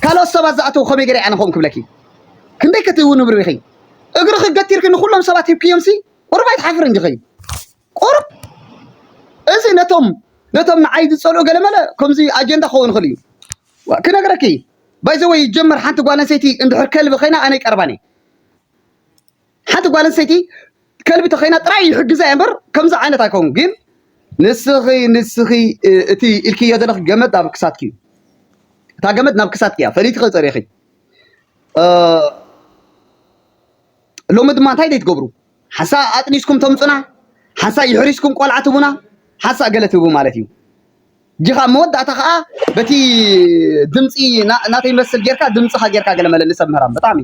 ካልኦት ሰባት ዝኣተዉ ከመይ ገይረ እያ ንኸም ክብለኪ ክንደይ ከትህዊ ንብሪ ኢኺ እግርኺ ገቲርኪ ንኹሎም ሰባት ሂብክዮምሲ ቁሩብ ኣይትሓፍርን ዲኺ ቁሩብ እዚ ነቶም ነቶም ንዓይ ዝፀልኡ ገለመለ ከምዚ ኣጀንዳ ክኸውን ይኽእል እዩ ክነግረኪ ባይዘወይ ይጀመር ሓንቲ ጓል ኣንሰይቲ እንድሕር ከልቢ ኮይና ኣነ ይቀርባን እየ ሓንቲ ጓል ኣንስተይቲ ከልቢ ተኾይና ጥራይ ይሕግዛ እየ እምበር ከምዚ ዓይነት ኣይከውን ግን ንስኺ ንስኺ እቲ ኢልክዮ ዘለኺ ገመድ ኣብ ክሳትኪ እዩ እታ ገመድ ናብ ክሳትኪ እያ ፈሊትኺ ፀሪኺ ሎሚ ድማ እንታይ ዘይትገብሩ ሓሳ ኣጥኒስኩም ተምፁና ሓሳ ይሕሪስኩም ቆልዓ ትቡና ሓሳ ገለ ትህቡ ማለት እዩ ጅክ ኣብ መወዳእታ ከኣ በቲ ድምጺ ናተይ መስል ጌርካ ድምጽካ ጌርካ ገለ መለ ንሰብ ምህራም ብጣዕሚ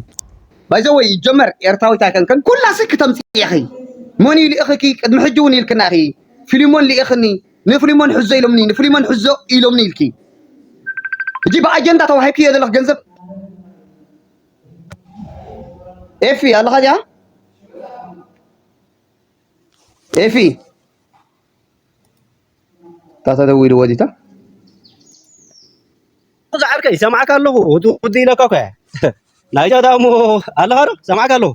ባይ ዘ ወይ ይጀመር ኤርትራዊት ኣይከንክን ኩላ ስክ ተምጽእ ኢኺ መን እዩ ልእኽኪ ቅድሚ ሕጂ እውን ኢልክና ኢኺ ፍሊሞን ልኢኽኒ ንፍሊሞን ሕዞ ኢሎምኒ ንፍሊሞን ሕዞ ኢሎምኒ ኢልኪ እጂ ብኣጀንዳ ተዋሂብክዮ ዘለኽ ገንዘብ ኤፊ ኣለኻ እዚኣ ኤፊ እታ ተደዊልዎ ዲታ እዚ ዓርከይ ሰማዕካ ኣለኹ ውዲ ኢለካ እኮ ናይ ጃዳ እሞ ኣለኻ ዶ ሰማዕካ ኣለኹ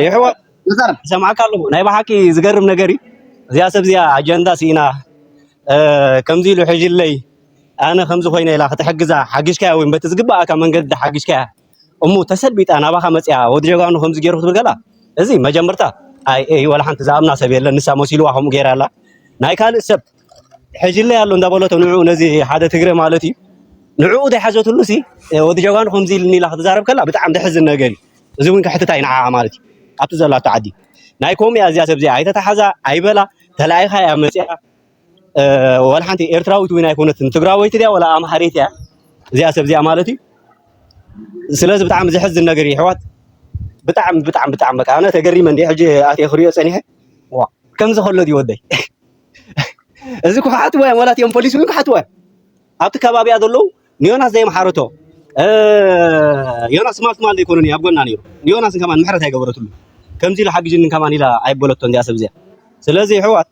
ይሕዋ ሰማዕካ ኣለኹ ናይ ብሓቂ ዝገርም ነገር እዩ እዚያ ሰብ እዚኣ ኣጀንዳ ሲኢና ከምዚ ኢሉ ሕጅለይ ኣነ ከምዚ ኮይነ ኢላ ክትሕግዛ ሓግሽካያ ወይ በቲ ዝግባኣካ መንገዲ ሓግሽካያ እሙ ተሰልቢጣ ናባኻ መጺኣ ወዲ ጀጋኑ ከምዚ ገይሩ ክትብል ከላ እዚ መጀመርታ ኣይ ኤይ ወላ ሓንቲ ዝኣምና ሰብ የለን ንሳ መሲልዋ ከምኡ ገይራ ኣላ ናይ ካልእ ሰብ ሕጅለይ ኣሎ እንዳበለቶ ንዕኡ ነዚ ሓደ ትግረ ማለት እዩ ንዕኡ ዘይሓዘትሉ ሲ ወዲ ጀጋኑ ከምዚ ኢልኒ ኢላ ክትዛረብ ከላ ብጣዕሚ ዘሕዝን ነገር እዩ እዚ እውን ክሕትታ እዩ ንዓኣ ማለት እዩ ኣብቲ ዘላቶ ዓዲ ናይ ኮምያ እዚኣ ሰብ እዚኣ ኣይተታሓዛ ኣይበላ ተላኢኻ እያ መፂኣ ዋላ ሓንቲ ኤርትራዊት እውን ኣይኮነትን ትግራወይቲ ድያ ዋላ ኣምሓሪት እያ እዚኣ ሰብ እዚኣ ማለት እዩ ስለዚ ብጣዕሚ ዘሕዝን ነገር እዩ ኣሕዋት ብጣዕሚ ብጣዕሚ ብጣዕሚ በቃ ኣነ ተገሪመ እንዲ ሕጂ ኣትየ ክሪኦ ፀኒሐ ዋ ከምዚ ከሎ ድዩ ወደይ እዚ ክሓትዎ እዮም ዋላ እትኦም ፖሊስ እውን ክሓትዎ እዮም ኣብቲ ከባቢያ ዘለዉ ንዮናስ ዘይምሓረቶ ዮናስ ትማል ትማል ዘይኮነ ኣብ ጎና ነይሩ ንዮናስ ከማን ምሕረት ኣይገበረትሉ ከምዚ ኢሉ ሓግጅኒ ከማን ኢላ ኣይበለቶን እዚኣ ሰብ እዚኣ ስለዚ ኣሕዋት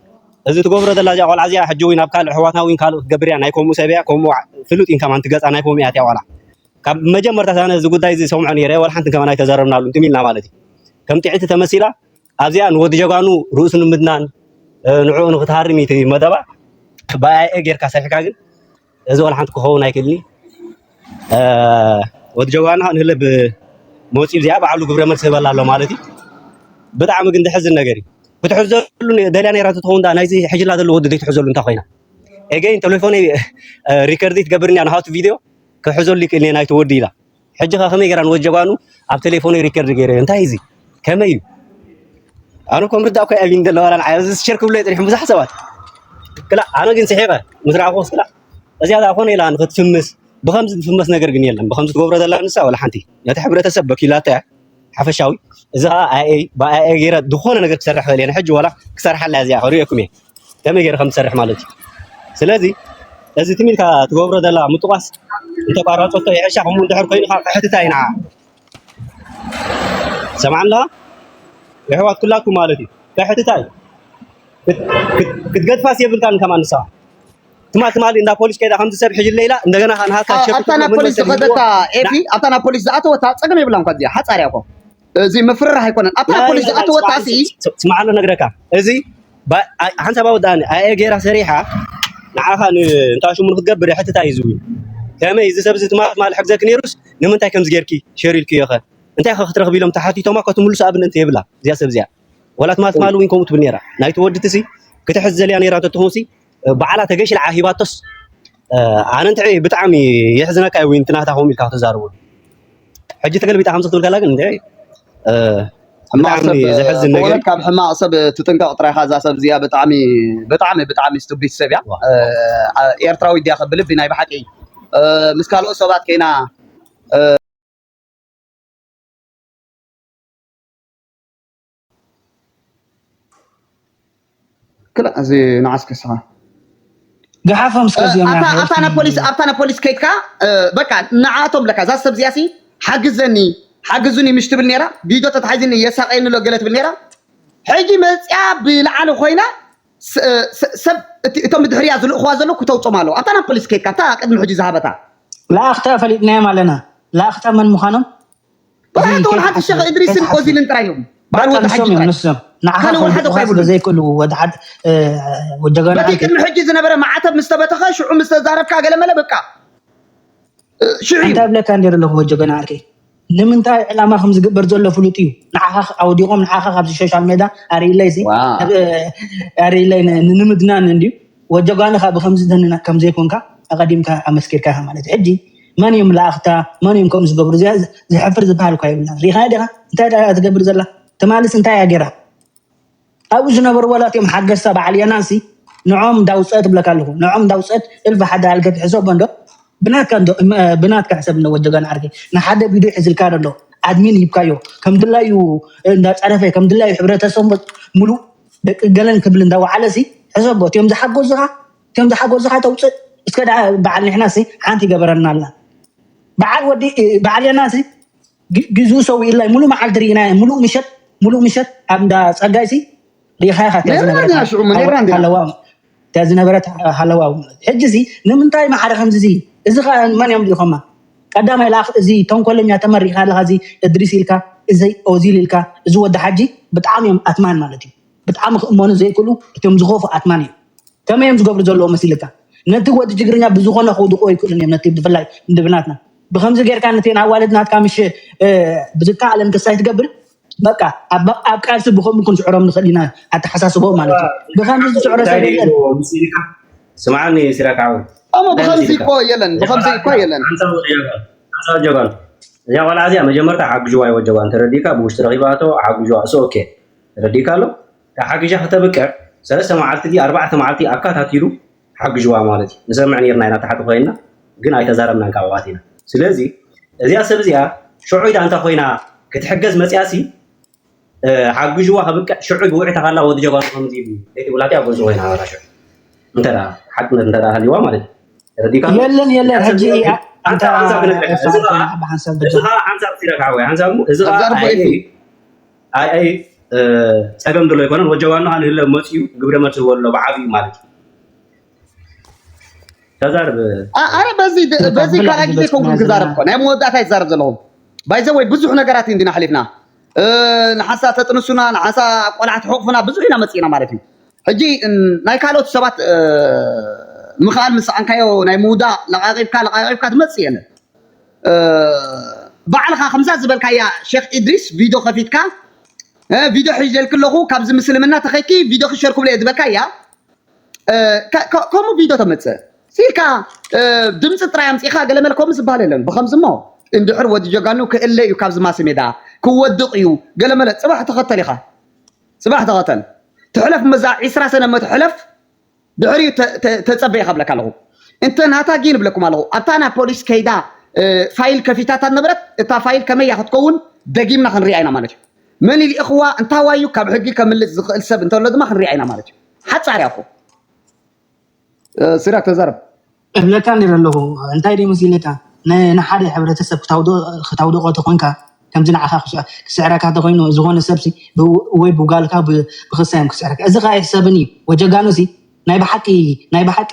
እዚ ትገብሮ ዘላ እዚኣ ቆልዓ እዚኣ ሕጂ እውን ኣብ ካልእ ኣሕዋትና እውን ካልእ ክትገብር እያ ናይ ከምኡ ሰብ እያ ከምኡ ፍሉጥ ኢን ከማን ትገፃ ናይ ከምኡ እያ እቲኣ ቆልዓ ካብ መጀመርታ ኣነ እዚ ጉዳይ እዚ ሰምዖ ነይረ ወላ ሓንቲ ከማን ኣይተዘረብናሉ እንትም ኢልና ማለት እዩ ከም ጥዕቲ ተመሲላ ኣብዚኣ ንወዲ ጀጋኑ ርእሱ ንምድናን ንዕኡ ንክትሃርም መደባ ብኣይኤ ጌርካ ሰሪሕካ ግን እዚ ዋላ ሓንቲ ክኸውን ኣይክእልኒ ወዲ ጀጋኑና ንህለ ብመውፂ እዚኣ ባዕሉ ግብረ መልሲ ህበላ ኣሎ ማለት እዩ ብጣዕሚ ግን ዝሕዝን ነገር እዩ ክትሕዘሉ ደልያ ነይራ ትኸውን ዳ ናይዚ ሕጅላ ዘሎ ወዲ ዘይትሕዘሉ እንታይ ኮይና ኤገይን ቴሌፎነይ ሪከርዲ ትገብርኒ ንሃቱ ቪድዮ ክሕዘሉ ይክእል ናይቲ ወዲ ኢላ ሕጂ ከ ከመይ ገራ ንወድ ጀጋኑ ኣብ ቴሌፎነይ ሪከርድ ገይረዮ እንታይ እዚ ከመይ እዩ ኣነ እኮ ምርዳእ ኮይ ኣቢን ዘለዋ ላን ዓያ እዚ ሸር ክብሎ ይጥሪሕም ብዙሕ ሰባት ክላ ኣነ ግን ስሒቐ ምስ ረኣኹስ ክላ እዚኣ ዛ ኮነ ኢላ ንክትፍምስ ብከምዚ ዝፍመስ ነገር ግን የለን ብከምዚ ትገብሮ ዘላ ንሳ ወላ ሓንቲ ነቲ ሕብረተሰብ በኪላቶ እያ ሓፈሻዊ እዚ ከዓ ኣይኣይ ብኣይኣይ ገይረ ዝኾነ ነገር ክሰርሕ ክእል እየ ንሕጂ ዋላ ክሰርሓላ እያ እዚኣ ክርእየኩም እየ ከመይ ገይረ ከም ዝሰርሕ ማለት እዩ ስለዚ እዚ ትም ኢልካ ትገብሮ ዘላ ምጥቋስ እንተቋረፀቶ ይሕሻ ከምኡ እንድሕር ኮይኑ ከዓ ክሕትታ እዩ ንዓ ሰማዕ ኣለኻ የሕዋት ኩላትኩም ማለት እዩ ክሕትታ እዩ ክትገድፋስ የብልካን ከማን ንስኻ ትማል ትማሊ እንዳ ፖሊስ ከይዳ ከምዚ ሰብ ሒዙ ኣለይ ኢላ እንደገና ከኣ ንሃታ ሸፊ ኣብታ ናብ ፖሊስ ዝኸደታ ኤፊ ኣብታ ናብ ፖሊስ ዝኣተወታ ጸገም የብላን እኳ እዚኣ ሓጻር እያ እኮ እዚ ምፍርራሕ ኣይኮነን ኣብታ ናብ ፖሊስ ዝኣተወታ ሲ ስማዓሎ ነግረካ እዚ ሓንቲ ኣባ ወዳኒ ኣየ ጌራ ሰሪሓ ንዓኻ ንእንታ ሽሙ ንክትገብር ሕትታ እዩ ዝብል ከመይ እዚ ሰብ እዚ ትማል ትማል ሕግዘኪ ነይሩስ ንምንታይ ከምዚ ጌርኪ ሸር ኢልክዮ ኸ እንታይ ኸ ክትረኽቢ ኢሎም ተሓቲቶማ እኳ ትምልሱ ኣብነት የብላ እዚኣ ሰብ እዚኣ ወላ ትማል ትማል እውን ከምኡ ትብል ነይራ ናይቲ ወዲ እቲ ክትሕዝ ዘልያ ነይራ እንተትኸውን ሲ ባዕላ ተገሽ ኢላ ሂባቶስ ኣነ እንትዕ ብጣዕሚ የሕዝነካ እዩ ዊንቲ ናታ ከምኡ ኢልካ ክትዛረቡ ሕጂ ተገልቢጣ ከምዚ ክትብል ከላ ግን እንትዕ ዘሕዝን ነገር ካብ ሕማቕ ሰብ ትጥንቀቕ ጥራይካ እዛ ሰብ እዚኣ ብጣዕሚ ብጣዕሚ ብጣዕሚ ስቱቢት ሰብ እያ ኤርትራዊ ድያ ከብልብ ናይ ብሓቂ ምስ ካልኦት ሰባት ከይና ክላእ እዚ ንዓስከ ስኻ ገሓፎም እስከ እዚኦም ኣብታ ናይ ኣብታ ናብ ፖሊስ ሓወልቲ ኣብታ ናብ ፖሊስ ከይድካ እ፣ በቃ ንዓኣቶም ለካ እዛ ሰብ እዚኣሲ ሓግዘኒ ሓግዙኒ ምሽ ትብል ነይራ ቪድዮ ተታሒዝኒ የሳቀየኒ ኣሎ ገለ ትብል ነይራ ሕጂ መፅያ ብላዕሊ ኮይና ስ- እ፣ ስ- ሰብ እቲ- እቶም ብድሕርያ ዝልእኽዋ ዘለዉ ክተውፅኦም ኣለዉ ኣብታ ናብ ፖሊስ ከይድካ ኣብታ ቅድሚ ሕጂ ዝሃበታ ለኣኽታ ፈሊጥናዮም ኣለና ለኣኽታ መን ምዃኖም ብኸያት ወላ ሓንቲ ሸኽ እድሪስን ኦዚልን ጥራይ እዮም ባዕሉ ወዲ ሓጂ ጥራይ ካልእ ወላ ሓደ ኳ ይብሉ ዘይክእሉ ወዲ ሓድ ጀጋና በቲ ቅድሚ ሕጂ ዝነበረ ማዕተብ ምስ ተበተኸ ሽዑ ምስ ተዛረብካ ገለመለ በቃ ሽዑ እንታይ ብለካ ነይረ ኣለኹ ወዲ ጀጋና ዓርከይ ንምንታይ ዕላማ ከም ዝግበር ዘሎ ፍሉጥ እዩ ንዓኻ ኣወዲቖም ንዓኻ ካብዚ ሶሻል ሜዳ ኣርእለይ ሲ ኣርእለይ ንምድናን እንድዩ ወጀጓንኻ ብከምዚ ከም ዘይኮንካ ኣቐዲምካ ኣመስኪርካ ማለት እዩ ሕጂ መን እዮም ላኣኽታ መን እዮም ከምኡ ዝገብሩ እዚኣ ዝሕፍር ዝበሃል እኳ የብላ ሪኢኻያ ዲኻ እንታይ ዳኣ ትገብር ዘላ ትማልስ እንታይ እያ ጌራ ኣብኡ ዝነበሩ ዋላት እዮም ሓገዝታ በዓል የናሲ ንዖም እንዳውፀት ብለካ ኣለኹ ንዖም እንዳውፀት እልፊ ሓደ ኣልገ ትሕሰቦ እንዶ ብናትካ እንዶ ብናትካ ሕሰብ እንዶ ወዲ ገና ዓርኪ ንሓደ ቪድዮ ሒዝልካ ኣሎ ኣድሚን ሂብካዮ ከም ድላዩ እንዳፀረፈ ከም ድላዩ ሕብረተሰብ ሙሉእ ደቂ ገለን ክብል እንዳወዓለ ሲ ሕሰቦ እትዮም ዝሓጎዙኻ ከም ዝሓጎዝኻ ተውፅእ እስከ ደኣ በዓል ንሕና ሲ ሓንቲ ይገበረና ኣላ በዓል ወዲ በዓል የና ሲ ግዝኡ ሰዊኡላይ ሙሉእ መዓልቲ ርኢና ሙሉእ ምሸት ሙሉእ ምሸት ኣብ እንዳ ፀጋይ ሲ ሪኢኻ ኢኻ እቲኣ ዝነበረትሃለዋ እቲኣ ዝነበረት ሃለዋ ሕጂ ሲ ንምንታይ ማሓደ ከምዚ ሲ እዚ ከዓ መን እዮም ልኢኾማ ቀዳማይ ለኣኽ እዚ ተንኮለኛ ተመሪኻ ኣለኻ እዚ እድሪስ ኢልካ እዚ ኦዚል ኢልካ እዚ ወዲ ሓጂ ብጣዕሚ እዮም ኣትማን ማለት እዩ ብጣዕሚ ክእመኑ ዘይክእሉ እቶም ዝኸፉ ኣትማን እዮም። ከመይ እዮም ዝገብሩ ዘለዎ መሲልካ? ነቲ ወዲ ትግርኛ ብዝኾነ ከውድቕዎ ኣይክእሉን እዮም ነቲ ብፍላይ ንድብናትና ብከምዚ ጌርካ ነተን ኣዋልድ ናትካ ምሽ ብዝከኣለን ክሳይ ትገብር በቃ ኣብ ቃልሲ ብከምኡ ክንስዕሮም ንኽእል ኢና ኣተሓሳስቦ ማለት እዩ ብከምዚ ዝስዕሮ ሰብ የለን ስምዓኒ ሲራክ ዓወት እሞ ብከምዚ እኮ የለን ብከምዚ እኮ የለን ሓንሳብ ጀጋኑ እዚኣ ቆልዓ እዚኣ መጀመርታ ሓግዥዋ ይወጀባ እንተረዲእካ ብውሽጢ ረኺባቶ ሓግዥዋ እሱ ኦኬ ተረዲእካ ኣሎ ተሓጊዣ ክተብቅዕ ሰለስተ መዓልቲ ድዩ ኣርባዕተ መዓልቲ ኣካታቲሉ ሓግዥዋ ማለት እዩ ንሰምዕ ነርና ኢና ታሕቲ ኮይና ግን ኣይተዛረብናን ካብ ኣባቴና ስለዚ እዚኣ ሰብ እዚኣ ሽዑ ኢዳ እንተ ኮይና ክትሕገዝ መፅያሲ ሓግዥዋ ከብቅዕ ሽዑ ብውዕታ ካላ ወዲ ጀጓኑ ከምዚ ኢሉ ዘይትብላቲ ኣብ ጎንፂ ኮይና ኣባታ ሽዑ እንተ ሓቅነት እንተ ሃልዋ ማለት እዩ ተረዲእካ የለን የለን ሕጂ ኣንታ ሓንሳብ ክነግረካ እዚ ከዓ ሓንሳብ ትረካዕወ ሓንሳብ እዚ ከዓ ኣይ ፀገም ድሎ ኣይኮነን ወጀባኖ ሃንህለ መፅኡ ግብረ መልሲ ዝወሎ ብዓብዩ ማለት እዩ ተዛርብ ኣረ በዚ በዚ ካልኣ ግዜ ከውን ክዛረብ እኮ ናይ መወዳእታ ይዛረብ ዘለኹ ባይዘ ወይ ብዙሕ ነገራት እንዲና ሓሊፍና ንሓንሳ ተጥንሱና ንሓንሳ ቆልዓ ትሕቕፉና ብዙሕ ኢና መፂእና ማለት እዩ ሕጂ ናይ ካልኦት ሰባት ምኽኣል ምስ ሰኣንካዮ ናይ ምውዳቕ ለቓቒብካ ለቓቒብካ ትመፅእ የለን ባዕልኻ ከምዛ ዝበልካያ ሸክ ኢድሪስ ቪዶ ከፊትካ ቪዶ ሒዘልኪ ኣለኹ ካብዚ ምስልምና ተኸይኪ ቪዶኺ ሸር ክብለየ ዝበልካያ ከምኡ ቪዶ ተመፅእ ሲልካ ድምፂ ጥራይ ኣምፂኻ ገለመለ ከምኡ ዝበሃል የለን ብከምዚ እሞ እንድሕር ወዲ ጀጋኑ ክእለ እዩ ካብዚ ማስ ሜዳ ክወድቕ እዩ ገለመለ ፅባሕ ተኸተል ኢኻ ፅባሕ ተኸተል ትሕለፍ መዛ ዒስራ ሰነ መትሕለፍ ድሕሪኡ ተጸበየ ካብለካ ኣለኹ እንተ ናታ ጊን እብለኩም ኣለኹ ኣብታ ናብ ፖሊስ ከይዳ ፋይል ከፊታታ ነበረት እታ ፋይል ከመያ ክትከውን ደጊምና ክንሪኣ ኢና ማለት እዩ መን ይልእኽዋ እንታዋይ እዩ ካብ ሕጊ ከምልጥ ዝኽእል ሰብ እንተሎ ድማ ክንሪኣ ኢና ማለት እዩ ሓጻር እያ እኮ ሲራክ ተዛረብ እብለካ ነይረ ኣለኹ እንታይ ድዩ መሲልካ ንሓደ ሕብረተሰብ ክታውድቆ ተኾንካ ከምዚ ንዓኻ ክስዕረካ ተኾይኑ ዝኾነ ሰብሲ ወይ ብጓልካ ብክሳ እዮም ክስዕረካ እዚ ከ ኣይሕሰብን እዩ ወጀጋኑሲ ናይ ብሓቂ ናይ ብሓቂ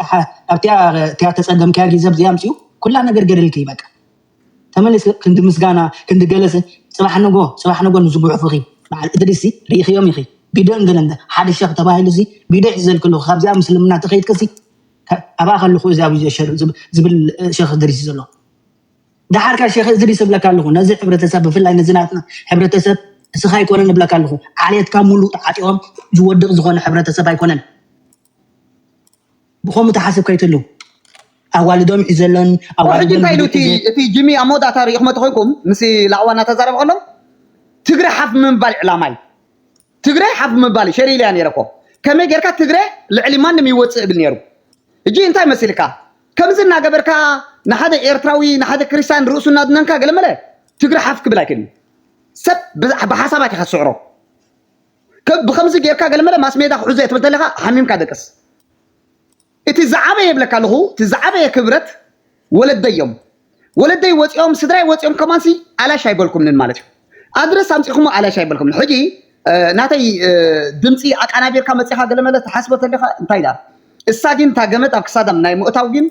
ኣብቲያ ተፀገምካያ ግዜ ኣብዚኣ ምፅኡ ኩላ ነገር ገደልክይ በቃ ተመልስ ክንዲ ምስጋና ክንዲ ገለሰ ፅባሕ ንጎ ፅባሕ ንጎ ንዝጉሕፉኺ በዓል እድሪሲ ርኢኽዮም ኢኺ ቢዶ እንገለ ሓደ ሸኽ ተባሂሉሲ ቢዶ ይሕዘልክሉ ካብዚኣ ምስልምና ተኸይድክሲ ኣብኣ ከለኹ እዚ ኣብዚ ሸር ዝብል ሸኽ እድሪስ እዩ ዘሎ ደሓር ከ ሸኽ እድሪስ እብለካ ኣለኹ ነዚ ሕብረተሰብ ብፍላይ ነዚ ናትና ሕብረተሰብ እስኻ ኣይኮነን እብለካ ኣለኹ ዓሌትካ ሙሉእ ተዓጢቖም ዝወድቕ ዝኾነ ሕብረተሰብ ኣይኮነን ብኸምኡ ተሓስብካ ይተሉ ኣዋልዶም ሒዘለን ሕጂ እንታይ ኢሉ እቲ ጅሚ ኣብ መወዳእታ ሪኢኹም ተኮይንኩም ምስ ላዕዋ እናተዛረበ ከሎ ትግረ ሓፍ ምባል ዕላማ እዩ ትግሬ ሓፍ ምባል ሸር ኢለያ ነይረ እኮ ከመይ ጌርካ ትግሬ ልዕሊ ማንም ይወጽእ እብል ነይሩ እጂ እንታይ መሲልካ ከምዚ እናገበርካ ንሓደ ኤርትራዊ ንሓደ ክርስቲያን ርእሱ እናድነንካ ገለመለ ትግሬ ሓፍ ክብል ኣይክእልን እዩ ሰብ ብዛ- ብሓሳባት ኢኻ ትስዕሮ ከ- ብከምዚ ጌርካ ገለመለ ማስ ሜዳ ክሕዞ እየ ትብል ተለኻ ሓሚምካ ደቅስ እቲ ዝዓበየ ይብለካ ኣለኹ እቲ ዝዓበየ ክብረት ወለደይ እዮም ወለደይ ወፂኦም ስድራይ ወፂኦም ከማንሲ ኣላሽ ኣይበልኩምንን ማለት እዩ ኣድረስ ኣምፂኹሞ ኣላሽ ኣይበልኩምን ሕጂ ናተይ ድምፂ ኣቃናቢርካ መፂኻ ገለመለ ትሓስቦ ተለኻ እንታይ ዳ እሳ ግን እታ ገመድ ኣብ ክሳዳም ናይ ምእታው ግን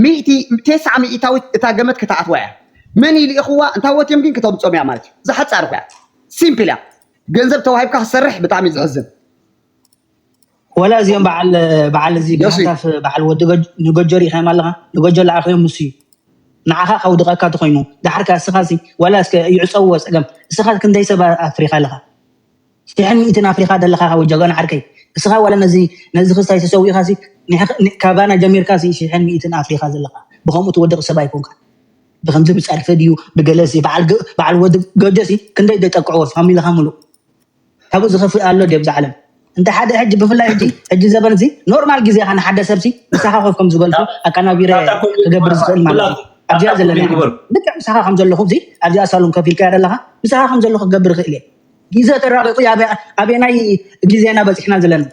ሚእቲ ቴስዓ ሚእታዊት እታ ገመድ ክተኣትዋ እያ መን ይልኢኽዋ እንታይ ወትዮም ግን ክተምፆም እያ ማለት እዩ ዝሓፃር እኮ እያ ሲምፕል እያ ገንዘብ ተዋሂብካ ክሰርሕ ብጣዕሚ ዝሕዝን ወላ እዚኦም በዓል በዓል እዚ ዮሲ ብሃታፍ በዓል ወዲ ገ- ንገጆ ሪኢኻዮም ኣለኻ ንገጆ ለዓኸዮ ምስ እዩ ንዓኻ ከውድቐካ ተኾይኑ ደሓር ከ እስኻ ሲ ወላ እስከ ይዕፀውዎ ፀገም እስኻ ክንደይ ሰብ ኣፍሪኻ ኣለኻ ሽሕን ሚእትን ኣፍሪኻ ደለኻ ካብ ጀጋኑ ዓርከይ እስኻ ወላ ነዚ ነዚ ክስታይ ተሰዊእኻ ሲ ንሕ- ን- ካባና ጀሚርካ ሲ ሽሕን ሚእትን ኣፍሪኻ ዘለኻ ብከምኡ ትወድቕ ሰብ ኣይኮንካ ብከምዚ ብፀርፊ ድዩ ብገለ ሲ በዓል ገ- በዓል ወዲ ገጆ ሲ ክንደይ ደጠቅዕዎ ፋሚልኻ ሙሉእ ካብኡ ዝኸፍእ ኣሎ ድዩ ኣብዛ ዓለም? እንተ ሓደ ሕጂ ብፍላይ ሕጂ ሕጂ ዘበን እዚ ኖርማል ግዜ ኢኻ ንሓደ ሰብ ሲ ምሳኻ ኮፍ ከም ዝበልኩ ኣቀናቢረ ናታ ኮሜዲ ክገብር ግበርካ ዝኽእል ማለት እዩ። ኩላትኩም ኣብዚኣ ናታ ዘለናያ ኮሜዲ ሕጂ ግበርኩ ልክዕ ምሳኻ ከም ዘለኹ እዚ ኣብዚኣ ሳሎን ኮፍ ኢልካያ ዘለኻ ምሳኻ ከም ዘለኹ ክገብር ይኽእል እየ። ግዘ ተራቂቁ እዩ ኣበ- ኣበየናይ ግዘ ኢና በፂሕና ዘለና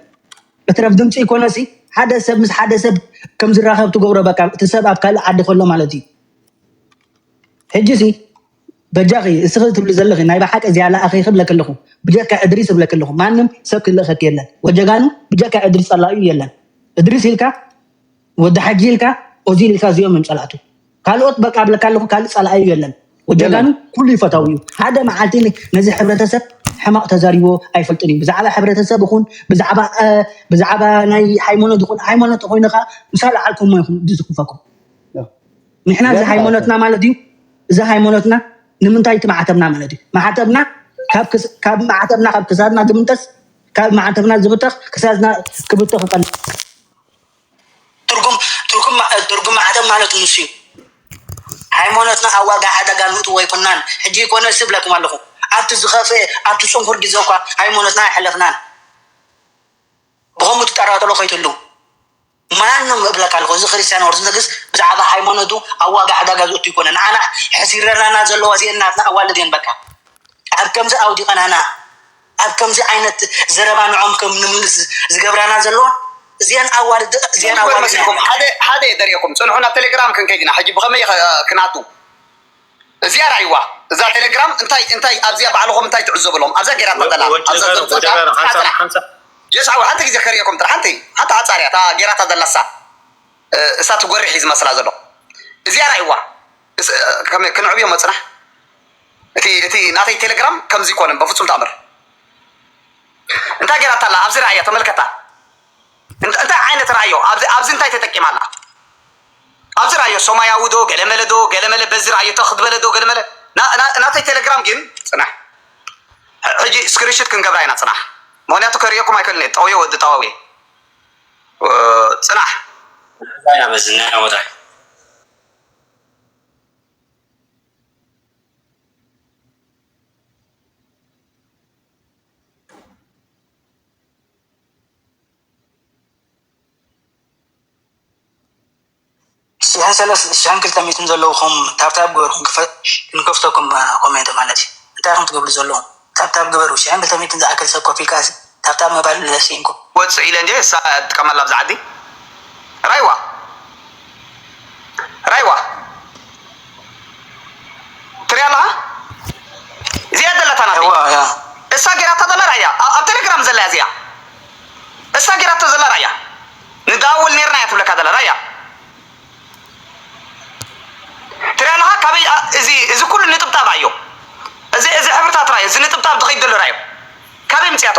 እትረፍ ድምፂ ኮነሲ ሓደ ሰብ ምስ ሓደ ሰብ ከም ዝራኸብ ትገብሮ በቃ እቲ ሰብ ኣብ ካልእ ዓዲ ከሎ ማለት እዩ ሕጂ ሲ በጃኺ እስኺ ትብሊ ዘለኺ ናይ በሓቂ እዚኣ ለኣኺ ክብለኪ ኣለኹ ብጀካ እድሪስ እብለኪ ኣለኹ ማንም ሰብ ክልእኸኪ የለን ወጀጋኑ ብጀካ እድሪስ ጸላኢኡ የለን እድሪስ ኢልካ ወዲ ሓጂ ኢልካ ኦዚል ኢልካ እዚኦም እዮም ጸላእቱ ካልኦት በቃ እብለካ ኣለኹ ካልእ ጸላኢኡ የለን ወጀጋኑ የለን ኩሉ ይፈታዊ እዩ ሓደ መዓልቲ ን- ነዚ ሕብረተሰብ ሕማቕ ተዛሪቦ ኣይፈልጥን እዩ ብዛዕባ ሕብረተሰብ ይኹን ብዛዕባ አ፣ ብዛዕባ ናይ ሃይማኖት ይኹን ሃይማኖት ኮይንኻ ምስ ኣለዓልኩሞ ይኹም ዝስክፈኩም ንሕና እዚ ሃይሞኖትና ማለት እዩ እዚ ሃይሞኖትና ንምንታይ እቲ ማዕተብና ማለት እዩ ማዕተብና ካብ ማዕተብና ካብ ክሳድና ዝምንጠስ ካብ ማዕተብና ዝብተኽ ክሳድና ክብተኽ ይቀል ትርጉም ትርጉም ትርጉም ማዕተብ ማለት ንሱ እዩ ሃይማኖትና ኣብ ዋጋ ሓደጋ ንእትዎ ኣይኮናን ሕጂ ይኮነ ስብለኩም ኣለኹ ኣብቲ ዝኸፈ ኣብቲ ፅንኩር ግዜ እኳ ሃይማኖትና ኣይሕለፍናን ብኸምኡ ትጠራጠሎ ከይትህልው ማንም እብለካ ኣለኩ እዚ ክርስትያን ኦርቶዶክስ ብዛዕባ ሃይማኖቱ ኣብ ዋጋ ዕዳጋ ዝእቱ ኣይኮነን ንዓና ሕሲረናና ዘለዋ እዚኤን ናትና ኣዋልድ እየን በቃ ኣብ ከምዚ ኣውዲቀናና ኣብ ከምዚ ዓይነት ዘረባ ንዖም ከም ንምልስ ዝገብራና ዘለዋ እዚኤን ኣዋልድ እዚኤን ኣዋልድ ሓደ ሓደ የደርየኩም ጽንሑ ናብ ቴሌግራም ክንከይድና ሕጂ ብከመይ ክንኣቱ እዚኣ ራኣይዋ እዛ ቴሌግራም እንታይ እንታይ ኣብዚኣ ባዕልኹም እንታይ ትዕዘቡ እሎም ኣብዛ ጌራታ ዘላ ኣብዛ ዘምጸእካ ንስኻ ጥራሕ ጀስ ዓው ሓንቲ ግዜ ከርእየኩም ጥራሕ ሓንቲ ሓንቲ ሓጻር እያ እታ ጌራታ ዘላ እሳ እሳ እቲ ጎርሕ እዩ ዝመስላ ዘሎ እዚኣ ራኣይዋ ከመይ ክንዕብዮ እሞ ጽናሕ እቲ እቲ ናተይ ቴሌግራም ከምዚ ኮነ በፍጹም ተኣምር እንታይ ጌራታ ኣላ ኣብዚ ራኣያ ተመልከታ እንታይ ዓይነት ራእዮ ኣብዚ ኣብዚ እንታይ ተጠቂማ ኣላ ኣብዚ ራእዮ ሶማያዊ ዶ ገለመለ ዶ ገለመለ በዚ ራእዮ ተኽ ትበለ ዶ ገለመለ ናተይ ቴለግራም ግን ጽናሕ ሕጂ ስክሪንሽት ክንገብራ ኢና ጽናሕ ምክንያቱ ከርእየኩም ኣይክእልን እየ ጠውየ ወዲ ጠዋው እየ ጽናሕ ንሕዛ ኢና በዚ ናይ ዓወታ ሽሕን ሰለስተ ሽሕን ክልተ ሚእትን ዘለውኹም ታብታብ ግበሩ ክንከፍተኩም ኮሜንት ማለት እዩ እንታይ ኢኹም ትገብሩ ዘለኹም ታብታብ ግበሩ ሽሕን ክልተ ሚእትን ዝኣክል ሰብ ኮፍ ኢልካ ታብታብ ምባል ለሲንኩም ወጹ ኢለ እንድየ እሳ እያ ትጥቀመላ ኣብዛ ዓዲ ራይዋ ራይዋ። ትሪኣ ኣለኻ እዚኣ ዘለታ ናተይ እዋ እያ እሳ ጌራታ ዘላ ርኣያ ኣብ ኣብ ቴሌግራም ዘላ እያ እዚኣ እሳ ጌራቶ ዘላ ርኣያ ንደዋወል ኔርና እያ ትብለካ ዘላ ርኣያ ትሪኣ ኣለኻ ካበይ ኣ- እዚ እዚ ኩሉ ንጥብጣብ ኣዮ እዚ እዚ ሕብርታት ርኣዮ እዚ ንጥብጣብ ዝኸይድ ዘሎ ርኣዮ ካበይ ምፅያቶ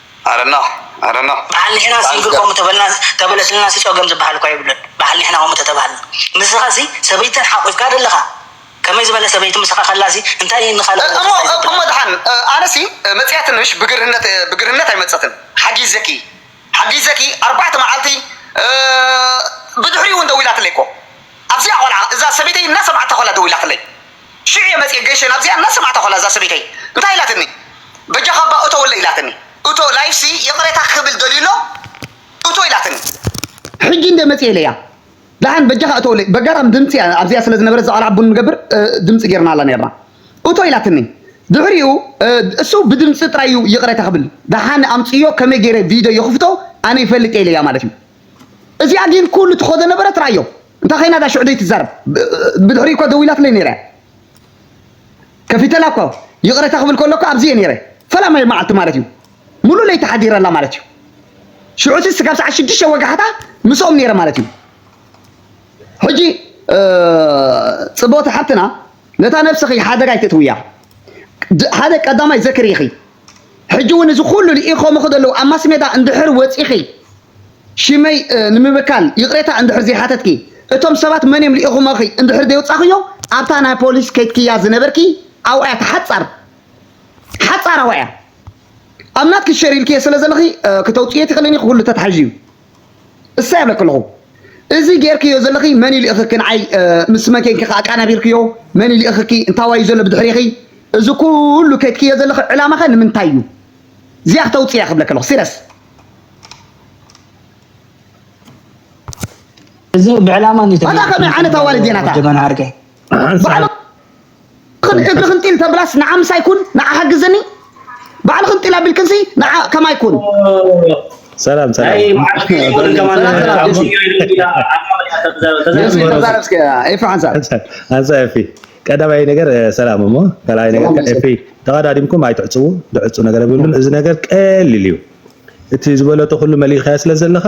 በዓል ንሕና ሲንግል ከምኡ ተበለስልናሲ ጸገም ዝበሃል እኳ የብሉን በዓል ንሕና ከምኡ ተተባሃልና ንስኻሲ ሰበይትተን ሓቊፍካ ደለኻ ከመይ ዝበለ ሰበይቲ ምሳኻ ከላሲ እንታይ እዪ ንኻልእ ወዲ ታይ ዘብላ እሞ ደሓን ኣነሲ መጺኣ ትንሽ ብግርህነት ብግርህነት ኣይመጸትን ሓጊዘኪ ሓጊዘኪ ኣርባዕተ መዓልቲ ብድሕሪኡ ውን ደዊላትለይ እኮ ኣብዚኣ ቆልዓ እዛ ሰበይተይ እናሰምዓታ ከላ ደዊላትለይ ሽዑ እየ መጺኤ ገሸ ናብዚኣ እናሰማዕታ ኮላ እዛ ሰበይተይ እንታይ ኢላትኒ በጃኻ እባ እቶወለይ ኢላትኒ እቶ live ሲ ይቕሬታ ክብል ደልዩ ኣሎ እቶ ኢላትኒ ሕጂ እንድየ መጺኤ ኢለያ ደሓን በጃኻ እቶወለይ በጋጣም ድምጺ እያ ኣብዚኣ ስለ ዝነበረት እዛ ቆልዓ ቡን ንገብር ድምጺ ጌርናላ ኔርና እቶ ኢላትኒ ድሕሪኡ እሱ ብድምጺ ጥራይ እዩ ይቕሬታ ክብል ደሓን ኣምጽዮ ከመይ ጌረ ቪድዮ ይኽፍቶ ኣነ ይፈልጥ እየ ኢለያ ማለት እዩ እዚኣ ግን ኩሉ ትኸዶ ነበረት ረኣዮ እንታይ ኮይና እዛ ሽዑ ዘይትዛረብ ብድሕሪኡ እኮ ደው ኢላትለይ ነይራ እያ ከፊተላ እኮ ይቕረታ ክብል ከሎ እኮ ኣብዚ እየ ነይረ ፈላማይ መዓልቲ ማለት እዩ ሙሉእ ለይቲ ሓዲረላ ማለት እዩ ሽዑ እቲ ስጋብ ሰዓት ሽዱሽተ ወጋሕታ ምስኦም ነይረ ማለት እዩ ሕጂ ጽብቕቲ ሓብትና ነታ ነብስኺ ሓደጋ ኣይትእትውያ ሓደ ቀዳማይ ዘክሪ ኢኺ ሕጂ እውን እዚ ኩሉ ልኢኾምኺ ዘለዉ ኣብ ማስሜዳ እንድሕር ወጺኺ ሽመይ ንምብካል ይቕሬታ እንድሕር ዘይሓተትኪ እቶም ሰባት መን እዮም ልኢኹምኺ እንድሕር ዘይውጻኽዮ ኣብታ ናይ ፖሊስ ከይትክያ ዝነበርኪ ኣብኡ እያ ተሓጻር ሓጻር ኣብኡ እያ ኣብ ናትኪ ሸር ኢልክዮ ስለ ዘለኺ ክተውጽዮ ትኽእልን ኢኺ ኩሉ ተታሒዙ እዩ እሰይ ኣለኪ ኣለኹ እዚ ጌርክዮ ዘለኺ መን እዩ ልእኽኪ ንዓይ ምስ መን ኬንኪ ከ ኣቃናቢርክዮ መን እዩ ልእኽኪ እንታዋይ እዩ ዘሎ ብድሕሪኺ እዚ ኩሉ ከድክዮ ዘለኺ ዕላማኸ ንምንታይ እዩ እዚኣ ክተውፅያ ክብለኪ ኣለኹ ሲረስ እዚ ብዕላማ እንዲዩ ተገይሩ ኣታ ከመይ ዓይነት ኣዋልድ እየን ኣታ ወዲ መን ዓርከይ ባዕልኽን እግርኽን ጢል ተብላስ ንዓ ምሳይ ኩን ንዓ ሓግዝኒ ባዕልኽን ጢል ኣቢልክንሲ ንዓ ከማይ ኩን ሰላም ሰላም ኣንሳ ኤፊ ቀዳማይ ነገር ሰላም እሞ ካልኣይ ነገር ኤፊ ተቐዳዲምኩም ኣይትዕፅዉ ድዕፁ ነገር የብሉን እዚ ነገር ቀሊል እዩ እቲ ዝበለጦ ኩሉ መሊእኻያ ስለ ዘለኻ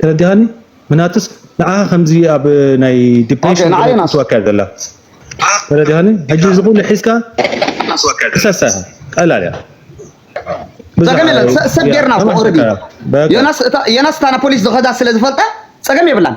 ተረዲኻኒ ምናትስ ንዓኻ ከምዚ ኣብ ናይ ዲፕሬሽን ትወካ ዘላ ተረዲኻኒ ሕጂ እዚ ኩሉ ሒዝካ ክሰሳ ቀላል እያ ጸገም የለን ሰብ ጌርና እኮ ኦልሬዲ ዮናስ እታ ዮናስ እታ ፖሊስ ዝኸዳ ስለ ዝፈልጣ ጸገም የብላን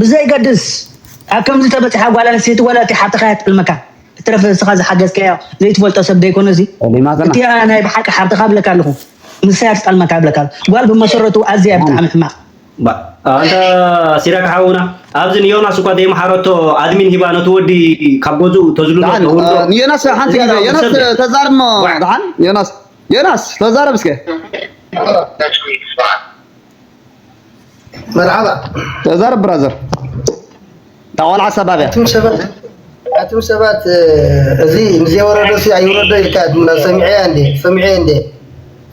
ብዘይገድስ ኣብ ከምዚ ተበጺሓ ጓል ኣንስተይቲ ዋላ እቲ ሓብትኻ እያ ትጥልመካ ብትረፈ ንስኻ ዝሓገዝካዮ ዘይትፈልጦ ሰብ ደይኮነ እዚ እቲኣ ናይ ብሓቂ ሓብትኻ ብለካ ኣለኹ ንሳ እያ ትጠልመካ ብለካ ኣለኹ ጓል ብመሰረቱ ኣዝያ ብጣዕሚ ሕማቕ ኣንታ ሲራክ ሓውና ኣብዚ ንዮናስ እኳ ዘይመሓረቶ ኣድሚን ሂባ ነቲ ወዲ ካብ ገዝኡ ተዝልሎ ተውርዶ ንዮናስ ሓንቲ ግዜ ዮናስ ተዛርሞ ድሓን ዮናስ ዮናስ ተዛረብ እስከ መርሓባ ተዛረብ ብራዘር እታ ቆልዓ ሰባብያ ኣቱም ሰባት እዚ ምስዘይወረዶ ሲ ኣይውረዶ ኢልካ ትምና ሰሚዐያ እንዴ ሰሚዐየ እንዴ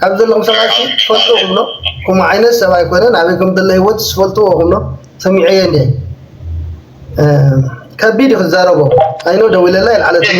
ካብ ዘለኹም ሰባት ትፈልጡ ክብሎ ከምኡ ዓይነት ሰብ ኣይኮነን ኣበይ ከም ዘሎ ህይወት ዝፈልጥዎ ክብሎ ሰሚዐየ እንዴ ከቢድ ክዛረቦ ኣይኖ ደዊለላ ይልዓለትኒ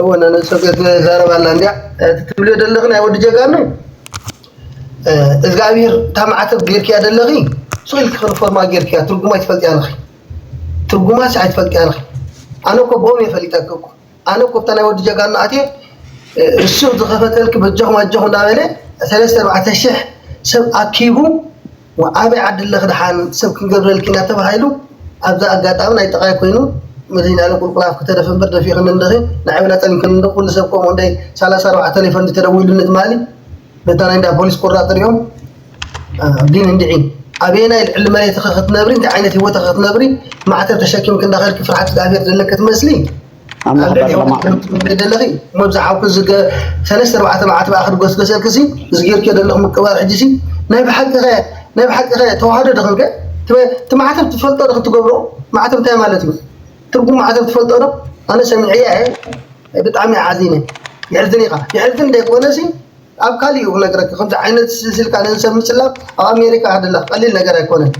እወ ነነብሰ ገዝመ ዛረብ ኣላ እንድያ እቲ ትብልዮ ደለኺ ናይ ወዲ ጀጋኑ እዝጋኣብሄር እታ ማዕተብ ጌርክያ ደለኺ ሱቕ ኢልኪ ክንፎርማ ጌርክያ ትርጉማ ኣይትፈልጥያ ኣለኺ ትርጉማ ሲ ኣይትፈልጥያ ኣለኺ ኣነ እኮ ብኦም እየ ፈሊጠኪ እኮ ኣነ እኮ ብታ ናይ ወዲ ጀጋኑ ኣትየ እሱ ዝኸፈተልኪ በጃኹም ኣጃኹም እንዳበለ ሰለስተ ኣርባዕተ ሽሕ ሰብ ኣኪቡ ኣበይ ዓዲ ኣለኺ ደሓን ሰብ ክንገብረልኪ ኢና ተባሂሉ ኣብዚ ኣጋጣሚ ናይ ጥቓይ ኮይኑ መሊና ኢለ ቁልቁል ኣፍኪ ተደፊ እምበር ደፊእኽኒ እንዲኺ ንዓይ እውን ኣፀሊምክኒ እንዶ ኩሉ ሰብ ከምኡ እንደይ ሰላሳ ኣርባዕተ ቴሌፎን እንዲ ተደዊሉኒ ትማሊ ነታ ናይ እንዳ ፖሊስ ቁራፅ ሪኦም ግን እንድዒ ኣበየናይ ልዕሊ መሬትኺ ክትነብሪ እንታይ ዓይነት ሂወትኺ ክትነብሪ ማዕተብ ተሸኪምኪ እንዳኸድኪ ፍርሓት እግዚኣብሔር ዘለኪ ትመስሊ ኣምላኽ ባርኽ ኣደይ ሎማዕ ከምቲ ትብሊ ዘለኺ እሞ ዝሓውኪ እዚ ከ ሰለስተ ኣርባዕተ መዓልቲ በኣ ክድጎስጎሰልኪ ሲ እዚ ጌርክዮ ዘለኺ ምቅባል ሕጂ ሲ ናይ ብሓቂ ከ ናይ ብሓቂ ከ ተዋህዶ ዶ ኮንከ እቲ እቲ ማዕተብ ትፈልጦ ዶ ክትገብሮ ማዕተብ እንታይ ማለት እዩ ትርጉም ማዕተብ ትፈልጦ ዶ ኣነ ሰሚዐያ እየ ብጣዕሚ እየ ሓዚነ የሕዝን ኢኻ የሕዝን ዘይኮነ ሲ ኣብ ካሊእ እዩ ክነግረካ ከምዚ ዓይነት እዚ ኢልካ ንሰብ ምጽላም ኣብ ኣሜሪካ ሃደላ ቀሊል ነገር ኣይኮነን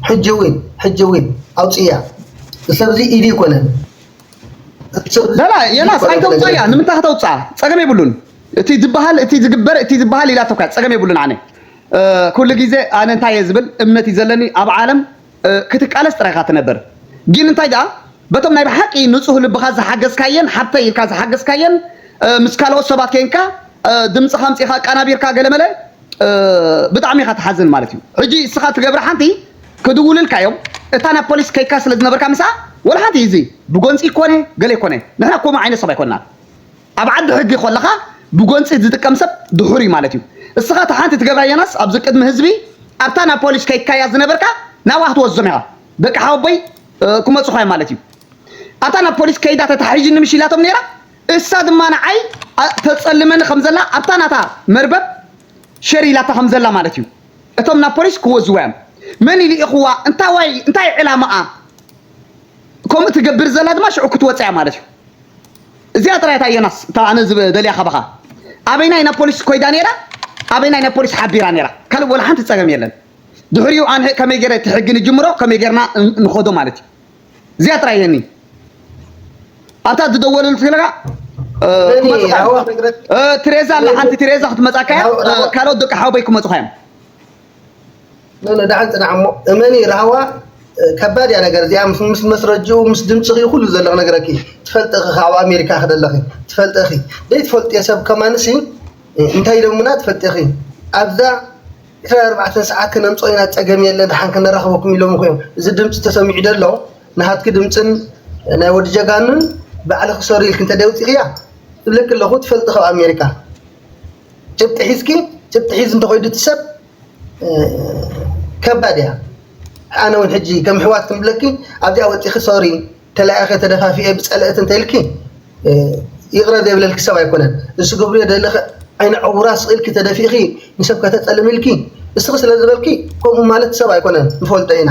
ሕጂ ዊን ሕጂ ዊን ኣውጽያ ንሰብ እዚ ኢዲ ይኮነን ላላ የናስ ኣይተውጽኣ እያ ንምንታይ ከተውጽኣ ጸገም የብሉን እቲ ዝበሃል እቲ ዝግበር እቲ ዝበሃል ኢላቶካ ጸገም የብሉን ኣነ ኩሉ ግዜ ኣነ እንታይ እየ ዝብል እምነት እዩ ዘለኒ ኣብ ዓለም ክትቃለስ ጥራይ ኢኻ ትነብር ጊን እንታይ ድኣ በቶም ናይ ብሓቂ ንጹህ ልብኻ ዝሓገዝካየን ሓብተይ ኢልካ ዝሓገዝካየን ምስ ካልኦት ሰባት ኬንካ ድምጽኻ ኣምጺኻ ኣቃናቢርካ ገለ መለ ብጣዕሚ ኢኻ ትሓዝን ማለት እዩ ሕጂ እስኻ ትገብራ ሓንቲ ክድውልልካ እዮም እታ ናብ ፖሊስ ከይካ ስለ ዝነበርካ ምስኣ ወላ ሓንቲ እዚ ብጎንጺ ኮነ ገለ ኮነ ንሕና ኮሙ ዓይነት ሰብ ኣይኮናን ኣብ ዓዲ ሕጊ ኮለኻ ብጎንጺ ዝጥቀም ሰብ ድሑር እዩ ማለት እዩ። እስኻ እታ ሓንቲ ትገብራ ዮናስ ኣብዚ ቅድሚ ህዝቢ ኣብታ ናብ ፖሊስ ከይትካያ ዝነበርካ ናብኣ ክትወስዞም ኢኻ ደቂ ሓወቦይ ክመጹኻ እዮም ማለት እዩ። ኣብታ ናብ ፖሊስ ከይዳ ተታሒዥኒ ምሽ ኢላቶም ነይራ እሳ ድማ ንዓይ ተጸልመኒ ከም ዘላ ኣብታ ናታ መርበብ ሸር ኢላታ ከም ዘላ ማለት እዩ። እቶም ናብ ፖሊስ ክወዝዋ እዮም። መን እዩ ልኢኽዋ እንታዋይ እንታይ ዕላማኣ ከምኡ ትገብር ዘላ ድማ ሽዑ ክትወጽ እያ ማለት እዩ። እዚኣ ጥራይ እታ ዮናስ እታ ኣነ ዝደልያ ካባኻ ኣበይናይ ናብ ፖሊስ ኮይዳ ነይራ ኣበይናይ ናብ ፖሊስ ሓቢራ ነይራ ካልእ ወላ ሓንቲ ጸገም የለን ድሕሪኡ ኣንሄ ከመይ ገይረ እቲ ሕጊ ንጅምሮ ከመይ ገይርና ንኸዶ ማለት እዩ እዚኣ ጥራይ የኒ ኣብታ ዝደወለሉ ስለካ ክመጽኻ እዮም ትሬዛ ኣላ ሓንቲ ትሬዛ ክትመጻካ እያ ካልኦት ደቂ ሓወበይ ክመጽኻ እዮም ንዳሓን ፅናሕ እሞ እመኒ ራህዋ ከባድ እያ ነገር እዚኣ ምስ መስረጅኡ ምስ ድምፅኺ ኩሉ ዘሎ ክነግረኪ ትፈልጢ ኢኺ ካብ ኣሜሪካ ክደለኺ ትፈልጢ ኢኺ ዘይትፈልጥዮ ሰብ ከማንሲ እንታይ ኢሎሙና ትፈልጢ ኢኺ ኣብዛ ዕስራን ኣርባዕተን ሰዓት ክነምፅኦ ኢና ፀገም የለ ድሓን ክነራኽበኩም ኢሎም እኮ እዮም እዚ ድምፂ ተሰሚዑ ደሎ ንሃትኪ ድምፅን ናይ ወዲ ጀጋኑን ባዕልኺ ሰሩ ኢልኪ እንተደይ ውፂእኽያ እብለኪ ኣለኹ ትፈልጢ ካብ ኣሜሪካ ጭብጢ ሒዝኪ ጭብጢ ሒዝ እንተኾይዱ እቲ ሰብ ከባድ እያ ኣነ እውን ሕጂ ከም ሕዋት ክንብለኪ ኣብዚኣ ወፂኺ ሶሪ ተለያኸ ተደፋፊኤ ብፀለእት እንተልኪ ይቕረ ዘይብለልኪ ሰብ ኣይኮነን እሱ ግብሪ ደለኸ ዓይነ ዕውራ ስቕኢልኪ ተደፊእኺ ንሰብ ከተፀልም ኢልኪ እስኺ ስለ ዝበልኪ ከምኡ ማለት ሰብ ኣይኮነን ንፈልጦ ኢና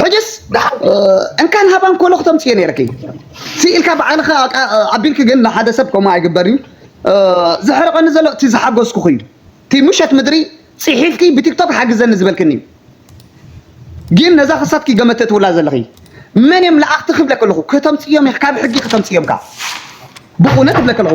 ሕጅስ እንካን ሃባን ኮሎ ክተምፅዮ ነይርኪ ስኢልካ ባዕልካ ኣቢልኪ ግን ንሓደ ሰብ ከምኡ ኣይግበር እዩ ዘሕርቀኒ ዘሎ እቲ ዝሓጎስኩኹ እዩ እቲ ምሸት ምድሪ ፅሒፍኪ ብቲክቶክ ሓግዘኒ ዝበልክኒ እዩ ግን ነዛ ክሳትኪ ገመት ተትውላ ዘለኺ መን እዮም ለኣኽቲ ክብለ ከለኹ ከተምፅዮም ኢኺ ካብ ሕጊ ከተምፅዮምካ ብእውነት እብለ ከለኹ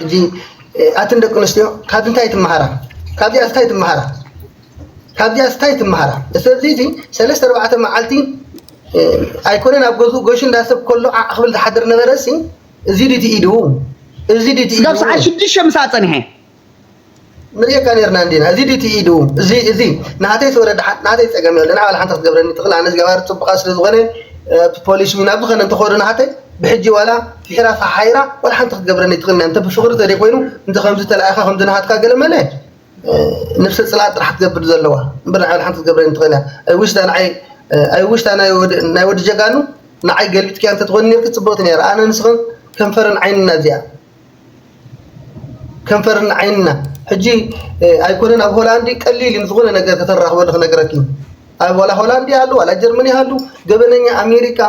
ሕጂ ኣትን ደቂ ኣንስትዮ ካብዚ እንታይ ትመሃራ ካብዚኣ እንታይ ትመሃራ ካብዚኣ እንታይ ትመሃራ ስለዚ እዚ ሰለስተ ኣርባዕተ መዓልቲ ኣይኮነን ኣብ ገዝኡ ጎሽ እንዳሰብ ከሎ ዓዕ ክብል ዝሓድር ነበረ ሲ እዚ ድቲ ኢዱ እዚ ድቲ ስጋብ ሰዓት ሽዱሽተ ምሳኣ ፀኒሐ ንርእየካ ኔርና እንዲና እዚ ድዩ እቲ ኢዱ እዚ እዚ ናተይ ስወረ ደሓን ናተይ ጸገም የለን ንዓባል ሓንቲ ክትገብረኒ ትኽእል ኣነ ዝገባር ጽቡቓ ስለ ዝኾነ ኣብቲ ፖሊስ ውን ኣብ ዝኾነ እንተኾይኑ ናተይ ብሕጂ ዋላ ፍሒራ ፈሓይራ ዋላ ሓንቲ ክትገብረኒ ትኽእል እንተ ብፍቕሪ ተደይ ኮይኑ እንተ ከምዚ ተላኢኻ ከምዚ ናሃትካ ገለ መለ ነብሰ ጽላእ ጥራሕ ትገብር ዘለዋ እምበር ንዓባል ሓንቲ ክትገብረኒ ትኽእል እያ ኣይ ዊሽ ዳ ንዓይ ኣይ ዊሽ ዳ ናይ ወዲ ጀጋኑ ንዓይ ገልቢጥክያ እንተ ትኾይኑ ኔርኪ ጽብቕቲ ነይራ ኣነ ንስኽን ከንፈርን ዓይንና እዚኣ ከንፈርና ዓይንና ሕጂ ኣይኮነን ኣብ ሆላንድ ቀሊል እዩ ዝኾነ ነገር ከተራኽበሉ ክነግረኪ ኣብ ዋላ ሆላንድ ይሃሉ ዋላ ጀርመን ይሃሉ ገበነኛ ኣሜሪካ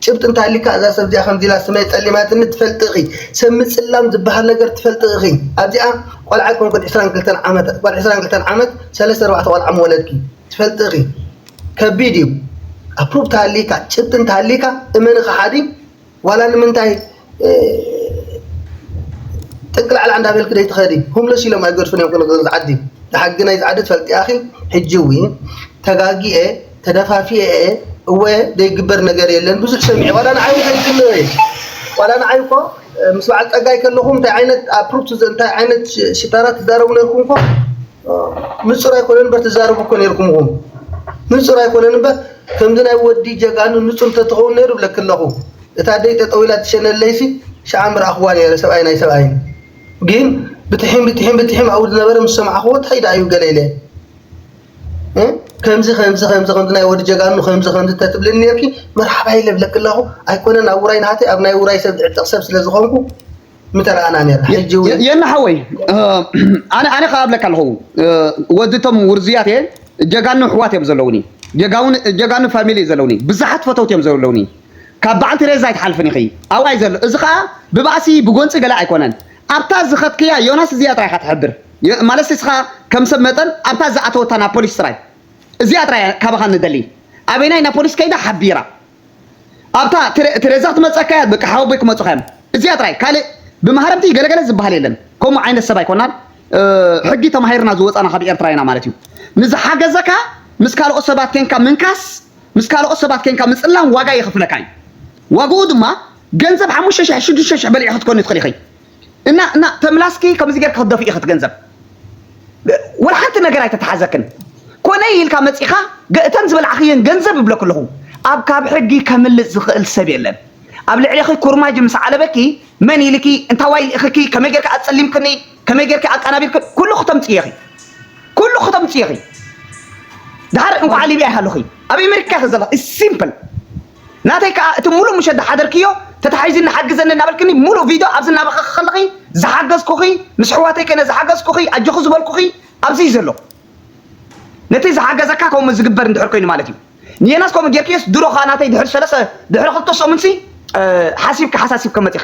ጭብጢ እንታይ ኣሊካ እዛ ሰብ እዚኣ ከምዚ ኢላ ስመይ ጠሊማትኒ ትፈልጢ ኢኺ ሰብ ምፅላም ዝበሃል ነገር ትፈልጢ ኢኺ ኣብዚኣ ቆልዓ ኮንኩን 22 ዓመት ጓል 22 ዓመት ሰለስተ ኣርባዕተ ቆልዓ ምወለድኪ ትፈልጢ ኢኺ ከቢድ እዩ ኣፕሩቭ ተሃሊካ ጭብጢ እንተሃሊካ እመኒ ከሓዲ ዋላ ንምንታይ ጥንቅል ዓላ እንዳበልክ ደይትኸዲ ሆምለስ ኢሎም ኣይገድፉን እዮም ክንገ ዝዓዲ ንሓጊ ናይ ዝዓዲ ትፈልጥያኺ ሕጂ እው ተጋጊኤ ተደፋፊኤ እወ ዘይግበር ነገር የለን ብዙሕ ሰሚዐ ዋላ ንዓይ ከይግነ እየ ዋላ ንዓይ እኮ ምስ በዓል ፀጋይ ከለኹ እንታይ ዓይነት ኣፕሩፕ እንታይ ዓይነት ሽጣራ ትዛረቡ ነርኩም እኮ ንፁር ኣይኮነን እምበር ትዛረቡ እኮ ነርኩም ንፁር ኣይኮነን እምበር ከምዚ ናይ ወዲ ጀጋኑ ንጹር ተትኸውን ነይሩ እብለኪ ኣለኹ እታ ኣደይ ጠጠው ኢላ ትሸነለይሲ ሽዓ ምረኣኽዋ ነይረ ሰብኣይ ናይ ሰብኣይን ግን ብትሒም ብትሒም ብትሒም ኣብኡ ዝነበረ ምስ ሰማዕኽዎ ታይ ድኣ እዩ ገለ ኢለ ከምዚ ከምዚ ከምዚ ከምዚ ናይ ወዲ ጀጋኑ ከምዚ ከምዚ ተትብልኒ ነርኪ መርሓባ ኢለ እብለኪ ኣለኹ ኣይኮነን ኣብ ውራይ ናሃተይ ኣብ ናይ ውራይ ሰብ ዝዕጠቕ ሰብ ስለ ዝኾንኩ ምተረኣና ነርና ሕጂ እውን የና ሓወይ ኣነ ኣነ ከዓ ኣብለካ ኣለኹ ወድቶም ውርዙያት እየ ጀጋኑ ኣሕዋት እዮም ዘለውኒ ጀጋውን ጀጋኑ ፋሚሊ እዩ ዘለውኒ ብዙሓት ፈተውቲ እዮም ዘለውኒ ካብ በዓል ቴሬዛ ኣይትሓልፍን ኢኺ ኣብኣ እዩ ዘሎ እዚ ከዓ ብባእሲ ብጎንፂ ገለ ኣይኮነን ኣብታ ዝኸትክያ ዮናስ እዚኣ ጥራይ ኢኻ ትሕብር ማለት እስኻ ከም ሰብ መጠን ኣብታ ዝኣተወታ ናብ ፖሊስ ጥራይ እዚኣ ጥራይ ካባኻ ንደሊ ኣበይናይ ናብ ፖሊስ ከይዳ ሓቢራ ኣብታ ቴረ- ቴሬዛ ክትመጸካ እያ በቃ ሓወቦይ ክመጹኻ እዮም እዚኣ ጥራይ ካልእ ብማህረምቲ ገለገለ ዝበሃል የለን ከምኡ ዓይነት ሰብ ኣይኮናን እ፣ ሕጊ ተማሂርና ዝወጻና ካብ ኤርትራ ኢና ማለት እዩ ንዝሓገዘካ ምስ ካልኦት ሰባት ኬንካ ምንካስ ምስ ካልኦት ሰባት ኬንካ ምጽላም ዋጋ የኽፍለካ እዩ ዋግኡ ድማ ገንዘብ ሓሙሽተ ሽሕ ሽዱሽተ ሽሕ በሊዕኺ ክትኮኒ ትኽእሊ ኢኺ እና እና ተምላስኪ ከምዚ ጌርኪ ክትደፍኢ ኢኺ እቲ ገንዘብ ወላ ሓንቲ ነገር ኣይተተሓዘክን ኮነይ ኢልካ መፂኻ እተን ዝበላዕኽየን ገንዘብ እብለኪ ኣለኹ ኣብ ካብ ሕጊ ከምልጥ ዝኽእል ሰብ የለን ኣብ ልዕሌኺ ኩርማጅ ምስ ዓለበኪ መን ኢልኪ እንታዋይ ልኢኽኪ ከመይ ጌርኪ ኣፀሊምክኒ ከመይ ጌርኪ ኣቃናቢርኪ ኩሉ ክተምፅኢ ኢኺ ኩሉ ክተምፅኢ ኢኺ ድሓር እንኳዕ ሊብያ ይሃለኺ ኣብ ኣሜሪካ ኢኺ ዘለኺ ሲምፕል ናተይ ከኣ እቲ ምሉእ ምሸት ዝሓደርክዮ ተታሒዝኒ ሓግዘኒ እናበልክኒ ምሉእ ቪድዮ ኣብዚ እናበኸኺ ከለኺ ዝሓገዝኩኺ ምስ ኣሕዋተይ ኮይነ ዝሓገዝኩኺ ኣጆኺ ዝበልኩኺ ኣብዚ እዩ ዘሎ ነቲ ዝሓገዘካ ከምኡ ዝግበር እንድሕር ኮይኑ ማለት እዩ ንየናስ ከምኡ ጌርክዮስ ድሮ ከኣ ናተይ ድሕሪ ሰለስተ ድሕሪ ክልተ ሰሙንሲ ሓሲብኪ ሓሳሲብኪ መጺኺ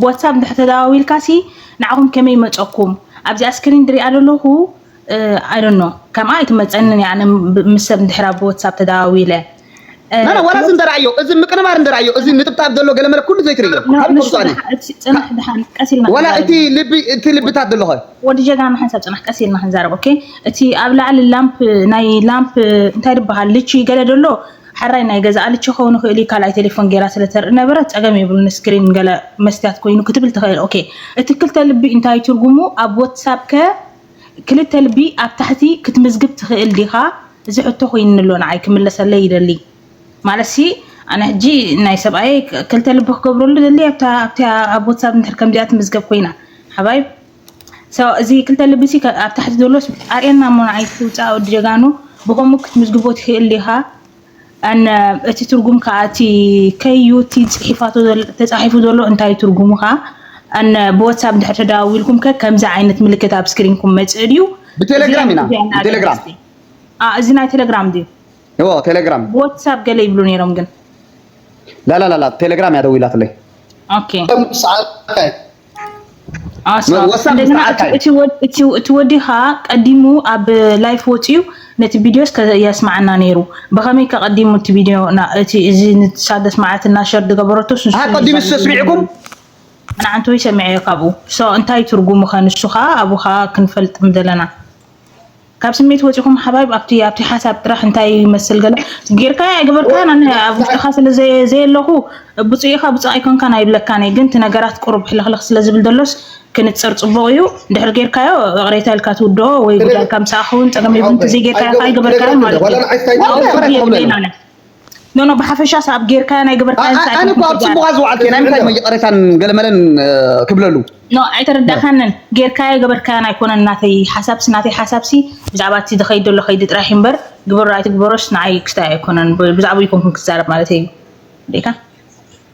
ብዋትሳፕ እንድሕር ተደዋዊልካሲ ንዓኹም ከመይ ይመፀኩም ኣብዚኣ ስክሪን ድሪኣ ዘለኹ ኣይዶኖ ከምኣ ኣይትመፀንን እያ ኣነ ምስ ሰብ እንድሕር ኣብ ዋትሳፕ ተደዋዊለ ላላ ዋላ እዚ እንደርኣዮ እዚ ምቅንባር እንደርኣዮ እዚ ንጥብጣብ ዘሎ ገለመለ ኩሉ ዘይትርእዮ ካብ ንሱኣኒ ፅናሕ ድሓን ቀስ ኢልና ዋላ እቲ ልቢ እቲ ልብታት ዘሎ ኸ ወዲ ጀጋና ሓንሳብ ፅናሕ ቀስ ኢልና ክንዛረብ ኦኬ እቲ ኣብ ላዕሊ ላምፕ ናይ ላምፕ እንታይ ድበሃል ልቺ ገለ ደሎ ሐራይ ናይ ገዛ ኣልች ክከውን ይክእል እዩ ካልኣይ ቴሌፎን ጌራ ስለ ተርኢ ነበረት ጸገም የብሉን ስክሪን ገለ መስትያት ኮይኑ ክትብል ትክእል ኦኬ እቲ ክልተ ልቢ እንታይ ትርጉሙ ኣብ ወትሳብ ከ ክልተ ልቢ ኣብ ታሕቲ ክትምዝግብ ትክእል ዲካ እዚ ሕቶ ኮይኑ ኣሎ ንዓይ ክምለሰለይ ይደሊ ማለትሲ ኣነ ሕጂ ናይ ሰብኣየይ ክልተ ልቢ ክገብረሉ ደሊ ኣብታ ኣብታ ኣብ ወትሳብ እንድሕር ከምዚኣ ትምዝገብ ኮይና ሓባይብ እዚ ክልተ ልቢ ሲ ኣብ ታሕቲ ዘሎስ ኣርእየና እሞ ንዓይ እስኪ ውፃእ ወዲ ጀጋኑ ብከምኡ ክትምዝግቦ ትክእል ዲካ ኣነ እቲ ትርጉም ከዓ እቲ ከዩ እቲ ፅሒፋቶ ተፃሒፉ ዘሎ እንታይ ትርጉሙ ከዓ ኣነ ብወትሳፕ ድሕር ተደዋዊልኩም ከ ከምዚ ዓይነት ምልክት ኣብ ስክሪንኩም መፅእ ድዩ ብቴሌግራም ኢና ብቴሌግራም እዚ ናይ ቴሌግራም ድዩ እዎ ቴሌግራም ብወትሳፕ ገለ ይብሉ ነይሮም ግን ላላላላ ቴሌግራም እያ ደዊላትለይ ኦኬ ኣስፋው ወሳኺ እንደገና ሰዓት እቲ እዩ እቲ ወድ እቲ እቲ ወዲ ኸኣ ቀዲሙ ኣብ ላይፍ ወጺኡ ነቲ ቪድዮስ ከ የስምዓና ነይሩ። ብኸመይ ከ ቀዲሙ እቲ ቪድዮ ና እቲ እዚ ንሳ ዘስምዓትና ሸር ዝገበረቶስ ንሱ ኣሃ እዩ ቀዲሙ ዛጊት ዝነግር ሰሚዕኩም ነይሩ። ንዓንተ ወይ ሰሚዐዮ ካብኡ። ሶ እንታይ ትርጉሙ ከ ንሱ ኸኣ ኣብኡ ኸኣ ክንፈልጥ ምደለና። ካብ ስሜት ወፂኹም ሓባይብ ኣብቲ ኣብቲ ሓሳብ ጥራሕ እንታይ ይመስል ገለ ጌርካያ ኣይገበርካያን ኣነ ኣብ ውሽጥኻ ስለ ዘየለኹ ብፁዕ ኢኻ ብፁዕ ኣይኮንካን ኣይብለካን እየ ግን እቲ ነገራት ቁሩብ ሕልኽልኽ ስለ ዝብል ዘሎስ ክንፅር ፅቡቕ እዩ ድሕሪ ጌርካዮ እቕሬታ ኢልካ ትውድኦ ወይ ጉዳይካ ምሳኻ ክኸውን ፀገም የብሉን ተዘይጌርካዮ ከዓ ኣይገበርካያን ማለት እዩ ፍርዲ የብለይን ኣነ ኖኖ ብሓፈሻ ሳብ ጌርካዮ ናይ ገበርካዮ እንታይ ኣነ እኮ ኣብ ጽቡቓ ዝወዓልኩ ናይ ምንታይ እሞ ይቕሬታን ገለመለን ክብለሉ ኖ ኣይተረዳእካንን ጌርካዮ ገበርካዮን ኣይኮነን ናተይ ሓሳብሲ ናተይ ሓሳብሲ ብዛዕባ እቲ ዝኸይድ ዘሎ ከይዲ ጥራሕ እዩ እምበር ግበሮ ኣይትግበሮስ ንዓይ ክስታይ ኣይኮነን ብዛዕባኡ ኣይኮንኩን ክዛረብ ማለተይ እዩ ዴካ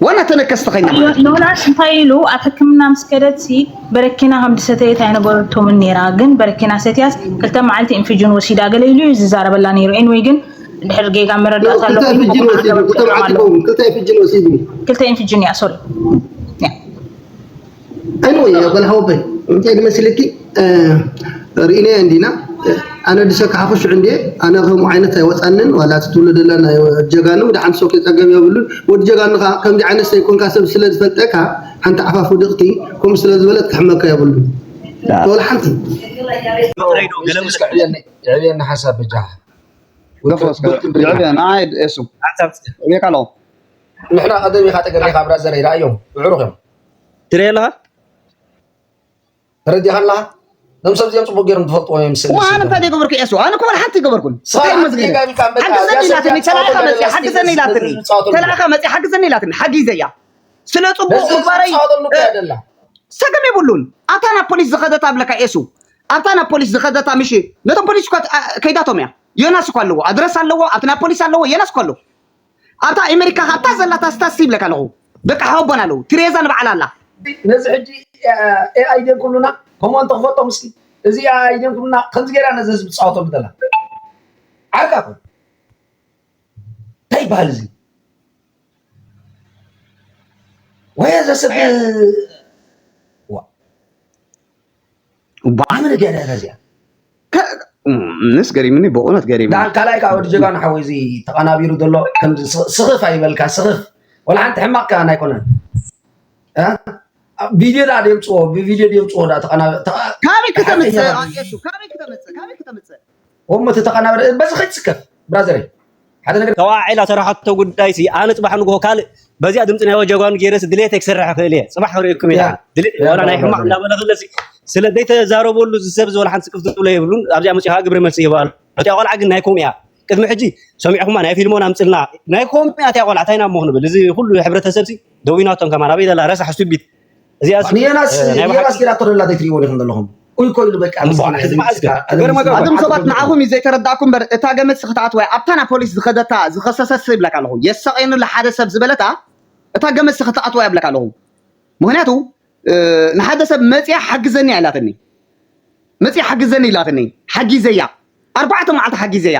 ዋላ ተነከስተኸኛ ማለት እዩ። ዮናስ እንታይ ኢሉ ኣብ ሕክምና ምስ ከደትሲ በረኪና ከም ዝሰተየት ኣይነበረቶምን ነይራ ግን በረኪና ሰትያስ ክልተ መዓልቲ ኢንፊጅን ወሲዳ ገለ ኢሉ እዩ ዝዛረበላ ነይሩ ኤንወይ ግን ድሕር ጌጋ መረዳእታ ኣሎ ክልተ ኢንፊጅን እያ ሶሪ Anyway, well, how big? እንታይ ዝመስልኪ ርኢናዮ እንዲና ኣነ ድሰካ ሓኹሽ እንዲ ኣነ ከምኡ ዓይነት ኣይወፃንን ዋላ እቲ ትብሎ ደላ ናይ ጀጋኑ ድሓን ሰው ከይፀገብ የብሉን ወዲ ጀጋኑ ከዓ ከምዚ ዓይነት ዘይኮንካ ሰብ ስለ ዝፈልጠካ ሓንቲ ዓፋፍ ውድቕቲ ከምኡ ስለ ዝበለት ክሕመካ የብሉን ወላ ሓንቲ የዕብየና ሓሳብ ብጃ የዕብየና ንዓይ ኤሱ ንሕና ቀደም ኢኻ ጠገብ ኢኻ ብራዘረይ ረኣዮም ምዕሩኽ እዮም ትሪኢ ኣለኻ ተረዲኻ ኣለኻ እዞም ሰብ እዚኦም ፅቡቅ ገይሮም ትፈልጥዎ እዮም ስእሊ ዋን ስእሊ እንታይ ገበርኩ ኤሱ ኣነ እኮ ወላ ሓንቲ ገበርኩን ስራ እንታይ መዝገበ ሓንቲ ጌጋ ኢልካ በቃ ሓግዘኒ እዚኣ ኢላትኒ ሰብ ተላኢኻ መፅያ ዝፃወተሉ ሓግዘኒ ኢላትኒ ህዝቢ ዝፃወተሉ ተላኢኻ መፅያ ሓግዘኒ ኢላትኒ ሓጊዘያ ስለ ፅቡቅ ነዚ ህዝቢ ምግባረይ ዝፃወተሉ እኮ እያ ደላ ሰገም የብሉን ኣብታ ናብ ፖሊስ ዝኸደታ ብለካ ኤሱ ኣብታ ናብ ፖሊስ ዝኸደታ ምሽ ነቶም ፖሊስ እኳ አ- ከይዳቶም እያ ዮናስ እኳ ኣለዎ ኣድረስ ኣለዎ ኣብቲ ናብ ፖሊስ ኣለዎ ዮናስ እኳ ኣለዎ ኣብታ ኣሜሪካ ከኣ እታ ዘላ ታስታሲ ይብለካ ኣለኹ ደቂ ሓወቦን ኣለዉ ቲሬዛ ንባዕላ ኣላ ነዚ ሕጂ ኤኣይ ድዮም ክብሉና ከምኡ እንተ ክፈልጦም እስኪ እዚ ኤኣይ ድዮም ክብሉና ከምዚ ጌራ ነዚ ህዝቢ ትጻወተሉ ዘላ ዓርካ ኮን እንታይ ይበሃል እዚ ወይ ዘስብ ብዓመለ ገለ ረዚያ ምስ ገሪምኒ ብእውነት ገሪም ዳን ካልኣይ ከዓ ወዲ ጀጋኑ ሓወይ እዚ ተቐናቢሩ ዘሎ ከምዚ ስኽፍ ኣይበልካ ስኽፍ ወላ ሓንቲ ሕማቕ ከዓ ኣይኮነን ቪድዮ ዳ ደምፅዎ ብቪድዮ ደምፅዎ ዳ ተቐናቢ ካበይ ክተምፅእ ካበይ ክተምፅእ ካበይ ክተምፅእ እሞ እቲ ተቀናባሪ በዚ ከይትስከፍ ብራዘረይ ሓደ ነገር ተዋዒላ ተረሓቶ ጉዳይ ሲ ኣነ ፅባሕ ንግሆ ካልእ በዚኣ ድምፂ ናይ ወጀጓኑ ገይረ ሲ ድሌተይ ክሰርሕ ይኽእል እየ ፅባሕ ክርእየኩም እየ ያ ድሓን ድሌት ያ ዋላ ናይ ብራቮ ሕማቕ ብራዘረይ እናበለ ክለሲ ስለ ዘይተዛረበሉ እዚ ሰብ ዝወላ ሓንቲ ስቅፍ ዝብሎ የብሉን ኣብዚኣ መፅኡ ከዓ ግብሪ መልሲ ይህባ ኣሎ እቲኣ ቆልዓ ግን ናይ ኮም እያ ቅድሚ ሕጂ ሰሚዕኹማ ናይ ፊልሞን ኣምፅልና ናይ ኮም እያ እቲኣ ቆልዓ እንታይ ኢና እሞ ክንብል እዚ ኩሉ ሕብረተሰብ ሲ ደዊናቶም ከማን ኣበይ ዘላ ረሳሕ ስቱቢት ንየናስ ንየናስ ኪዳ ተደላ ዘይትሪእዎ ዲኹም ዘለኹም ኡይ ኮይሉ በቃ ኣቶም ሰባት ንዓኹም እዩ ዘይተረዳእኩ እምበር እታ ገመድ ስክትኣት ወይ ኣብታ ናብ ፖሊስ ዝኸደታ ዝኸሰሰት ይብለካ ኣለኹ የሳቐየኒ ኣሎ ሓደ ሰብ ዝበለታ እታ ገመድ ስክትኣት ወይ ይብለካ ኣለኹ ምክንያቱ ንሓደ ሰብ መፅያ ሓግዘኒ ኢላትኒ መጺኣ ሓግዘኒ ኢላትኒ ሓጊዘያ ኣርባዕተ መዓልቲ ሓጊዘያ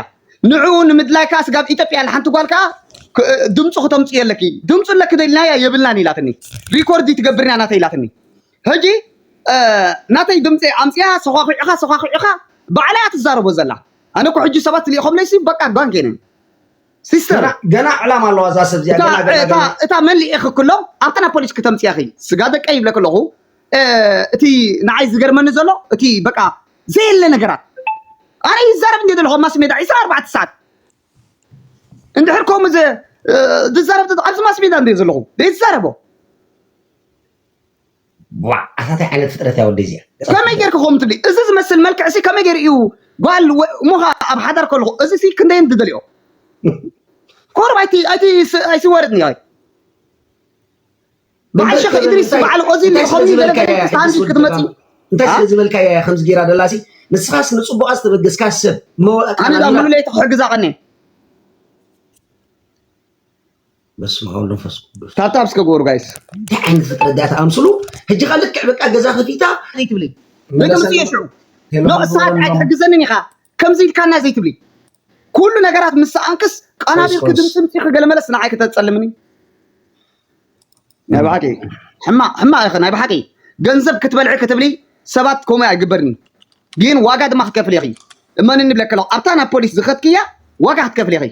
ንዕኡ ንምድላይ ከኣ ስጋብ ኢትዮጵያ ኢላ ሓንቲ ጓል ከኣ ድምፁ ክተምፅእ ኣለኪ ድምፁ ኣለኪ ዶ ኢልናያ የብልናን ኢላትኒ ሪኮርድ ትገብርና ናተይ ኢላትኒ ሕጂ ናተይ ድምፂ ኣምፅኣ ሰኳኩዕኻ ሰኳኩዕኻ ባዕላ እያ ትዛረቦ ዘላ ኣነ እኮ ሕጂ ሰባት ልኢኾምለይሲ በቃ ጓንጌነ ሲስተር ገና- ገና ዕላማ ኣለዋ እዛ ሰብ እዚኣ እታ ገና ገና እታ ገና እታ መን ልኢኺ ክሎ ኣብታ ናብ ፖሊስ ክተምፅያ ኺ ስጋ ደቀ ይብለ ከለኹ እ፣ እቲ ንዓይ ዝገርመኒ ዘሎ እቲ በቃ ዘየለ ነገራት ኣነ ይዛረብ እንደ ዘለኹ ኣብ ማስ ሜዳ 24 ሰዓት እንድሕር ከምኡ ዘ እ፣ ዝዛረብ ተት- ኣብዚ ማስ ሜዳ እንደ ዘለኹ ዘይዛረቦ ቧዕ ኣታታይ ዓይነት ፍጥረት እያ ወደይ እዚኣ ከመይ ጌርኪ ከምኡ ትብሊ እዚ ዝመስል መልክዕ ሲ ከመይ ጌሩ እዩ ጓል እሞ ከ ኣብ ሓዳር ከለኹ እዚ ሲ ክንደየን ትደልዮ ኮርብ ኣይቲ ኣይቲ ኣይሲ ወርድ ኒ ኣይ በዓል ሸኽ ኢድሪስ በዓል ኦዚ ከምዚ ገለገለስታንዲ ክትመፂ እንታይ ስለ ዝበልካ እያ ከምዚ ጌራ ደላ ሲ ንስኻስ ንፅቡቓ ዝተበገስካ ሰብ ኣነ ዳ ሙሉለይቲ ክሕግዛ ቀኒ በስመ አብ መንፈስ ቅዱስ ታብታብ እስከ ጎሩ ጋይስ እንታይ ዓይነት ፍጥረት ድያ ተኣምስሉ ሕጂ ከ ልክዕ በቃ ገዛ ከፊታ ዘይትብሊ ንግምት እየ ሽዑ ኖ እሳት ኣይትሕግዘንን ኢኻ ከምዚ ኢልካና ዘይትብሊ ኩሉ ነገራት ምስ ሰኣንክስ ቀናቢልኪ ኮርስ። ድምፂ ምፂኺ ገለመለስ ንዓይ ከተፀልምኒ ናይ ብሓቂ ሕማቅ ሕማቅ ኢኺ ናይ ብሓቂ ገንዘብ ክትበልዒ ክትብሊ ሰባት ከምኡ ኣይግበርን እዩ ግን ዋጋ ድማ ክትከፍል ኢኺ እመንኒ ብለከ ኣለኹ ኣብታ ናብ ፖሊስ ዝኸትክያ ዋጋ ክትከፍል ኢኺ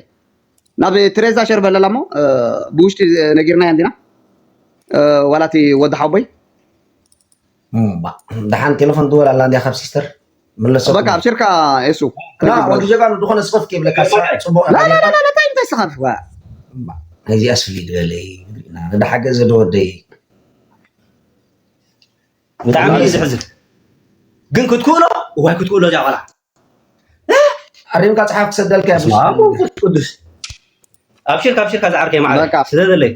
ናብ ትሬዛ ሸር በለላ እሞ ብውሽጢ ነጊርናያ እንዲና ዋላ እቲ ወዲ ሓቦይ ደሓን ቴሌፎን ትወል ኣላ እንዲያ ካብ ሲስተር ምለሰ በቃ ኣብሽርካ የሱ ወዲ ጀጋኑ ዝኾነ ስኸፍ ከይብለካ ፅቡቅ ታይ እንታይ ስኸፍ ነዚኣ ስሊ ዝበለይ ንዳሓገ ዘደወደይ ብጣዕሚ እዩ ዝሕዝን ግን ክትክእሎ እዋይ ክትክእሎ እዚኣ ቆልዓ ኣሪምካ ፅሓፍ ክሰደልካ ቅዱስ ኣብሽርካ ኣብሽርካ ዝዓርከይ ማዕረ ስለ ዘለይ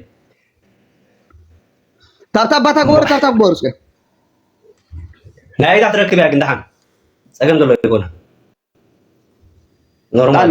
ካብታ ኣባታ ግበሩ ካብታ ግበሩ እስከ ናይ ኢዳ ትረክብ እያ ግን ደሓን ፀገም ዘሎ ይኮነ ኖርማል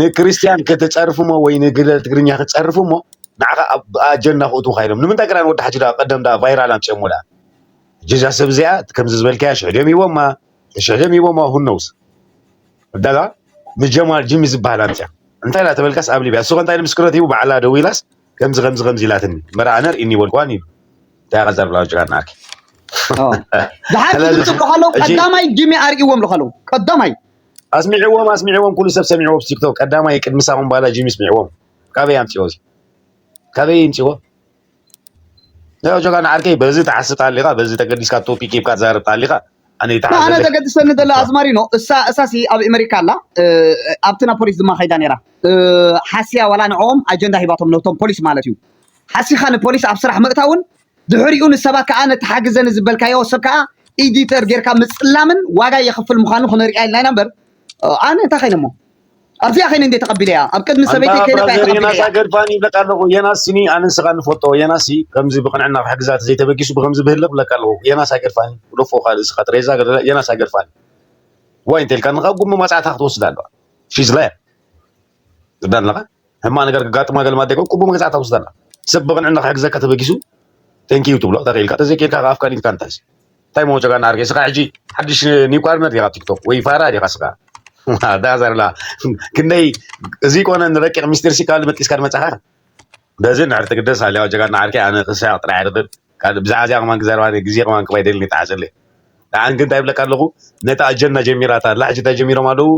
ንክርስትያን ከተጸርፍ እሞ ወይ ንግለ ትግርኛ ክትጸርፍ እሞ ንዓኻ ኣብ ኣጀንዳ ክእትውካ ኢሎም ንምንታይ ክዳን ወዲ ሓጂ ደኣ ቀደም ደኣ ቫይራል ኣምጺኦሞ ደኣ ጀጃ ሰብ እዚኣ ከምዚ ዝበልካያ ሽሕ ድዮም ሂቦማ ሽሕ ድዮም ሂቦማ ሁነውስ ደኣ ንጀማል ጂሚ ዝበሃል ኣምጺኣ እንታይ ደኣ ተበልካስ ኣብ ሊብያ እሱኸ እንታይ ንምስክርነት ሂቡ ባዕላ ደው ኢላስ ከምዚ ከምዚ ከምዚ ኢላትኒ እምበር ኣነ ርኢኒ ይበልክዋን ኢሉ እንታይ ኣኸ ዘርብላ ወጅጋ ናኣኪ ዝሓንቲ ዝጽብሑ ኣለዉ ቀዳማይ ጂሚ ኣርእዎም ኣለዉ ቀዳማይ ኣስሚዕዎም ኣስሚዕዎም ኩሉ ሰብ ሰሚዕዎ ኣብ ቲክቶክ ቀዳማይ ቅድሚ ሳሙን ባላ ጂሚ ስሚዕዎም ካበይ ኣምፅዎ እዚ ካበይ ይምፅዎ ያው ጆጋ ንዓርከይ በዚ ተሓስብ ተሃሊኻ በዚ ተገዲስካ ቶፒክ ሂብካ ትዛረብ ተሃሊኻ ኣነ ይተሓዝ ኣነ ዘለኒ ዘገድሰኒ ዘሎ ኣዝማሪኖ እሳ እሳሲ ኣብ ኣሜሪካ ኣላ እ፣ ኣብቲ ናብ ፖሊስ ድማ ከይዳ ነይራ እ፣ ሓስያ ዋላ ንዕኦም ኣጀንዳ ሂባቶም ነቶም ፖሊስ ማለት እዩ ሓሲኻ ንፖሊስ ኣብ ስራሕ ምእታውን ድሕሪኡ ንሰባት ከኣ ነቲ ሓግዘኒ ዝበልካዮ ሰብ ከኣ ኢዲተር ጌርካ ምጽላምን ዋጋ የኽፍል ምዃኑ ክነርኢያ ኢልና ኢና እምበር ኣነ እንታይ ከይነ እሞ ኣብዚኣ ከይነ እንዴ ተቐቢለያ ኣብ ቅድሚ ሰበይተይ ከይነ እያ ተቐቢለያ የናሳ ገድፋኒ ይብለካ ኣለኹ የናስ ስኒ ኣነ ንስኻ ንፈልጦ የናስ ከምዚ ብቕንዕና ክሕግዛ ተዘይተበጊሱ ብከምዚ ብህልኽ ብለካ ኣለኹ የናስ ኣይገድፋኒ ሎፎ ካልእ ስኻ ጥሬዛ የናስ ኣይገድፋኒ ዋይ እንተልካ ንኻ ጉሚ ማጽዕታ ክትወስድ ኣለዋ ሺዝ ላየር ዝዳለኻ ሕማቅ ነገር ክጋጥማ ገለ ማዴ ኮን ቁቡ መግዛእታ ውስዳላ ሰብ ብቅንዕና ክሕግዘካ ተበጊሱ ቴንኪዩ ትብሎ ተክኢልካ ተዘይክኢልካ ከኣ ኣፍካ ኒንካ እንታይ እንታይ መወጨጋ እናርገ ስኻ ሕጂ ሓድሽ ኒው ፓርትነር ዲኻ ቲክቶክ ወይ ፋራ ዲኻ ስኻ ዳዛርላ ክንደይ እዚ ኮነ ንረቂቅ ሚስጢር ሲ ካልእ መጥቂስካ ድመጻኻ በዚ ንዕረቲ ግደስ ኣልያኦ ጀጋኑ ዓርከይ ኣነ ክሳቅ ጥራይ ኣይርክብ ካልእ ብዛዕባ እዚኣ ከማን ክዛረባ ነይሩ ግዜ ከማን ክህባ ኣይደልን ይጥዓሰለይ ንዓን ግን እንታይ ይብለካ ኣለኩ ነታ ኣጀንዳ ጀሚራታ ኣላ ሕጂ እንታይ ጀሚሮም ኣለዉ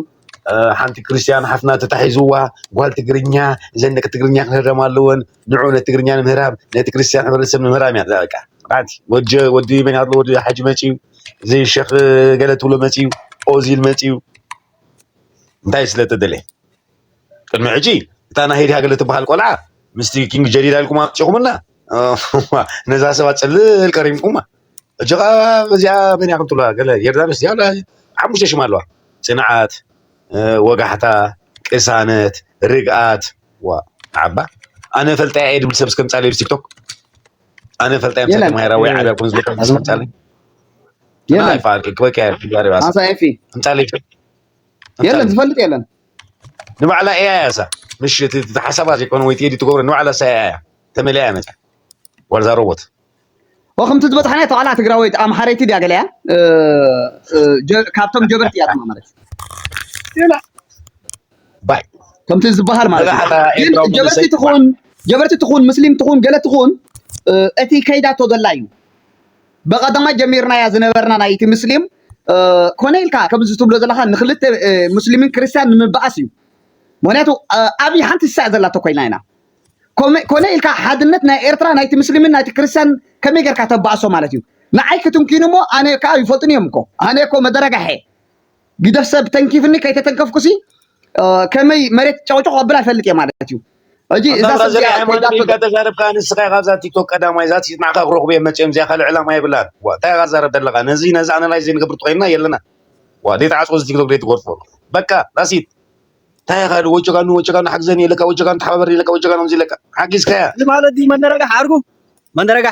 ሓንቲ ክርስትያን ሓፍትና ተታሒዝዋ ጓል ትግርኛ እዘን ደቂ ትግርኛ ክህረማ ኣለወን ንዑ ነቲ ትግርኛ ንምህራም ነቲ ክርስትያን ሕብረተሰብ ንምህራም እያ በቃ ራቲ ወዲ ወዲ መን ኣሎ ወዲ ሓጂ መፅዩ እዚ ሸኽ ገለ ትብሎ መፅዩ ኦዚል መፅዩ እንታይ ስለ ተደለየ ቅድሚ ሕጂ እታ ናይ ሄዲ ሃገለ ትበሃል ቆልዓ ምስቲ ኪንግ ጀዲዳ ኢልኩም ኣምጺኹምልና ነዛ ሰባት ጽልል ቀሪምኩማ ሕጂ ከኣ እዚኣ መን እያ ክትብላ ገለ ዮርዳኖስ እዚኣ ሓሙሽተ ሽም ኣለዋ ጽንዓት ወጋሕታ ቅሳነት ርግኣት ዋ ዓባ ኣነ ፈልጣያ እየ ድብል ሰብ እስከምጻለይ ምስ ቲክቶክ ኣነ ፈልጣያ ምስ ተማሂራ ወይ ዓብያ ኮን ዝብል እስከምጻለይ የለን ክበቅያ እምጻለይ የለን ዝፈልጥ የለን ንባዕላ ኤኣይ እያ እሳ ምሽ እቲ እቲ ሓሳባ ዘይኮነ ወይ ቴዲ ትገብሮ ንባዕላ እሳ ኤኣይ እያ ተመሊኣ እያ መፅያ ዋልዛ ሮቦት ወክምቲ ዝበፅሓናዮ ተቓላ ትግራወይቲ ኣምሓረይቲ ድያ ገለ እያ ካብቶም ጀበርቲ እያ ድማ ማለት እዩ ላ ባይ ከምቲ ዝበሃል ማለት እዩ መጋሓታ ግን ኤርትራዊ ጀበርቲ መንእሰይ ባይ ትኹን ጀበርቲ ትኹን ምስሊም ትኹን ገለ ትኹን እቲ ከይዳቶ ዘላ እዩ ብቀደማ ጀሚርናያ ዝነበርና ናይ እቲ ምስሊም ኮነ ኢልካ ከምዚ ትብሎ ዘለካ ንክልተ ሙስሊምን ክርስትያን ንምበኣስ እዩ ምክንያቱ ኣብይ ሓንቲ ስሳዕ ዘላቶ ኮይና ኢና ኮነ ኢልካ ሓድነት ናይ ኤርትራ ናይቲ ምስሊምን ናይቲ ክርስትያን ከመይ ጌርካ ተበኣሶ ማለት እዩ ንዓይ ክትንኪኑ እሞ ኣነ ከዓ ይፈልጡን እዮም እኮ ኣነ እኮ መደረጋሐ ግደ ሰብ ተንኪፍኒ ከይተተንከፍኩሲ ከመይ መሬት ጨቕጨቕ ኣብላ ይፈልጥ እየ ማለት እዩ ሕጂ እዛ ሰብ እዚኣ ኮይዳቶ ኢልካ ተዛረብካ ንስኻ ካብዛ ቲክቶክ ቀዳማይ እዛ ንዓኻ ክረኽቡ እዮም መፅኦም እዚኣ ካልእ ዕላማ የብላን ዋ እንታይ ኢኻ ትዛረብ ዘለኻ ነዚ ነዚ ኣናላይዝ ዘይንገብር ተኮይንና የለና ዋ ዘይተዓፅቆ እዚ ቲክቶክ ዘይትጎርፎ በቃ ዳሲት እንታይ ኢኻ ወቸጋኑ ወቸጋኑ ሓግዘኒ ኢለካ ወቸጋኑ ተሓባበርኒ ኢለካ ወቸጋኑ ከምዚ ኢለካ ሓጊዝካያ እዚ ማለት እዩ መነረጋሕ ዓርጉ መንደረጋ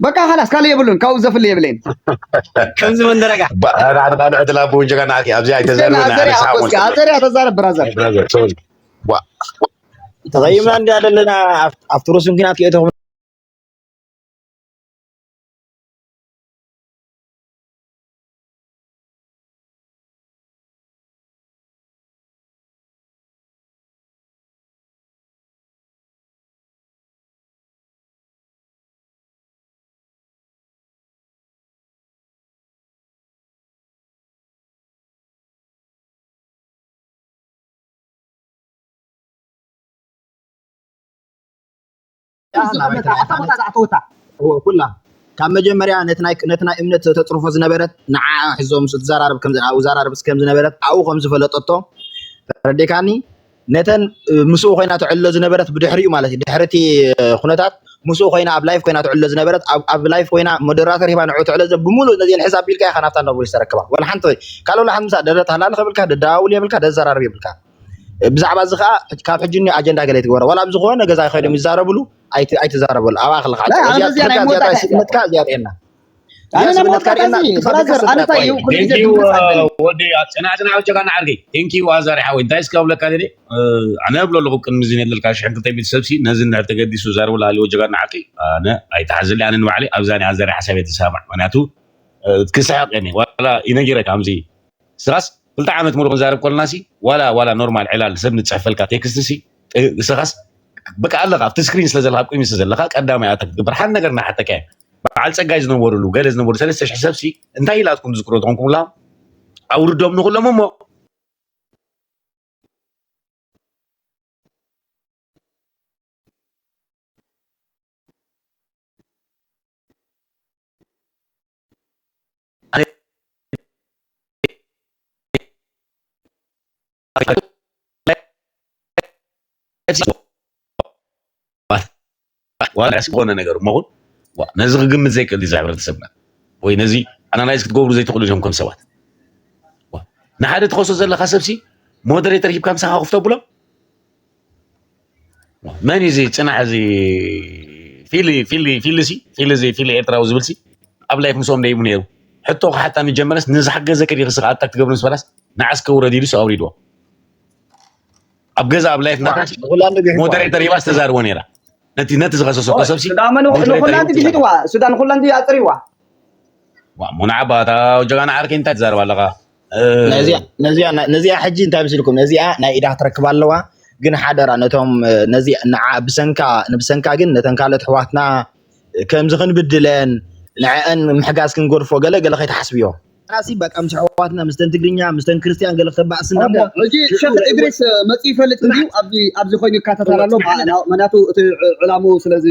በቃ ካላስ ካልእ የብሉን ካብኡ ዘፍሊ የብለይን ከምዚ መንደረጋ ንዓንቓን ዕድላ ብውን ጀጋ ንዓኪ ኣብዚኣ ኣይተዘርበናዘርያ ተዛረብ ብራዘር ተቐይምና እንዲ ኣለና ኣብቲ ሩስን ኩናት ክእተኹም ኩላ ካብ መጀመርያ ነቲ ናይ እምነት ተፅርፎ ዝነበረት ንዓኣ ሕዞ ምስ እትዘራረብ ከምዝነበረት ኣብኡ ከምዝፈለጠቶ ተረዲእካኒ ነተን ምስኡ ኮይና ትዕሎ ዝነበረት ብድሕሪኡ ማለት እዩ ድሕሪ እቲ ኩነታት ምስኡ ኮይና ኣብ ላይፍ ኮይና ትዕሎ ዝነበረት ኣብ ላይፍ ኮይና ሞደራተር ሂባ ንዕኡ ትዕሎ ብሙሉእ ነዚኤን ሕዝ ኣቢልካ ኢኻ ናብታ ኖቨሊስ ተረክባ ወላ ሓንቲ ካልእ ወላ ሓንቲ ምሳ ደረት ሃላልኽ የብልካ ደደዋውል የብልካ ደዘራርብ የብልካ ብዛዕባ እዚ ከዓ ካብ ሕጂ እኒ ኣጀንዳ ገለ ትግበሮ ወላ ኣብ ዝኾነ ገዛ ኮይኖም ይዛረብሉ ኣይትዛረበሉ ኣብኣ ክልካ እዚኣ ትሕካ እዚኣ ጥራይ ስጥመትካ እዚኣ ጥዕና ኣነ ናብ ሞት ካርኤና ብራዘር ኣነ እንታይ እዩ ኩሉ ግዜ ድምፅ ኣለኒ ወዲ ፅናዕ ፅናዕ ወቸካ ናዓርገ ቴንኪ ዋዛሪ ሓወይ እንታይ እስከ ብለካ ደሊ ኣነ እብሎ ኣለኹ ቅድሚ እዚ ነለልካ ሽሕን ክልተ ሚእቲ ሰብሲ ነዚ እንድሕር ተገዲሱ ዛርብላ ሃልዩ ወጀጋ ናዓርቂ ኣነ ኣይተሓዝሊ ኣነ ንባዕሊ ኣብዛ ናይ ኣዛሪ ሓሳብ እየ ተሰማዕ ምክንያቱ ክስሕቅ እየ ዋላ ይነጊረ ከምዚ ስራስ ክልተ ዓመት ሙሉእ ክንዛረብ ኮለና ሲ ዋላ ዋላ ኖርማል ዕላል ሰብ ንጽሕፈልካ ቴክስት ሲ ንስኻስ በቃ ኣለኻ ኣብቲ ስክሪን ስለ ዘለኻ ቁሚ ስለ ዘለኻ ቀዳማይ ኣታ ክትግበር ሓን ነገር ናሓተካ እያ በዓል ጸጋይ ዝነበሩሉ ገለ ዝነበሩ ሰለስተ ሽሕ ሰብ ሲ እንታይ ኢላትኩም ዝዝክሮ ዝኾንኩም ላ ኣውርዶም ንኹሎም እሞ ዝኾነ ነገር እሞ ነዚ ክግምት ዘይክእል እዚ ሕብረተሰብና ወይ ነዚ ኣናላይዝ ክትገብሩ ዘይትኽእሉ እዮም ከም ሰባት ንሓደ ትኸሶ ዘለካ ሰብሲ ሞደሬተር ሂብካ ምሳኻ ክፍቶ ብሎም መን እዩ እዚ ፅናሕ እዚ ፊሊ ፊሊ ፊሊ ሲ ፊሊ እዚ ፊሊ ኤርትራዊ ዝብል ሲ ኣብ ላይፍ ምስኦም ደይቡ ነይሩ ሕቶ ክሓታ ንጀመረስ ንዝሓገዘኪ ዲኺ ስኻ ኣታክ ትገብሪ ምስ በላስ ንዓስ ከውረድ ኢሉስ ኣውሪድዎ ኣብ ገዛ ኣብ ላይፍ ናታስ ሞደሬተር ሂባስ ተዛርቦ ነይራ ነቲ ነቲ ዝኸሰሰኮ ሰብሲ ንኹላንቲ ግሒጥዋ ሱዳን ንኹላንቲ ኣፅሪዋ ዋ ሙናዓባታ ጀጋና ዓርከይ እንታይ ትዛረብ ኣለኻ ነዚኣ ነዚኣ ነዚኣ ሕጂ እንታይ ምስልኩም ነዚኣ ናይ ኢዳ ክትረክብ ኣለዋ ግን ሓደራ ነቶም ነዚ ንዓ ብሰንካ ንብሰንካ ግን ነተን ካልኦት ኣሕዋትና ከምዚ ክንብድለን ንዐአን ምሕጋዝ ክንገድፎ ገለ ገለ ከይትሓስብዮ ራሲ በቃ ምስ ኣሕዋትና ምስተን ትግርኛ ምስተን ክርስትያን ገለ ክተባእስ እሞ እንዳሞ ሕጂ ሽዑ ሸኽ ርዕቡ እድሪስ እ፣ መጺኡ ይፈልጥ እንድዩ ጽናሕ ኣብዚ ኣብዚ ኮይኑ ይከታተል እወ ኣሎ ጽናሕ ማ- ኣለና ና- ምክንያቱ እቲ ዕ- ዕላሙ ስለዚ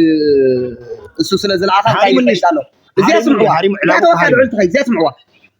እሱ ስለ ዝለኣኻ እንታይ ሃሪሙኒ ይኸይድ ኣሎ እዚኣ ሃሪሙኒ ስምዕዋ ሃሪሙ እዚኣ ዕላሙ ተወካል ሃሪሙ ዕል ትኸይድ እዚኣ ስምዕዋ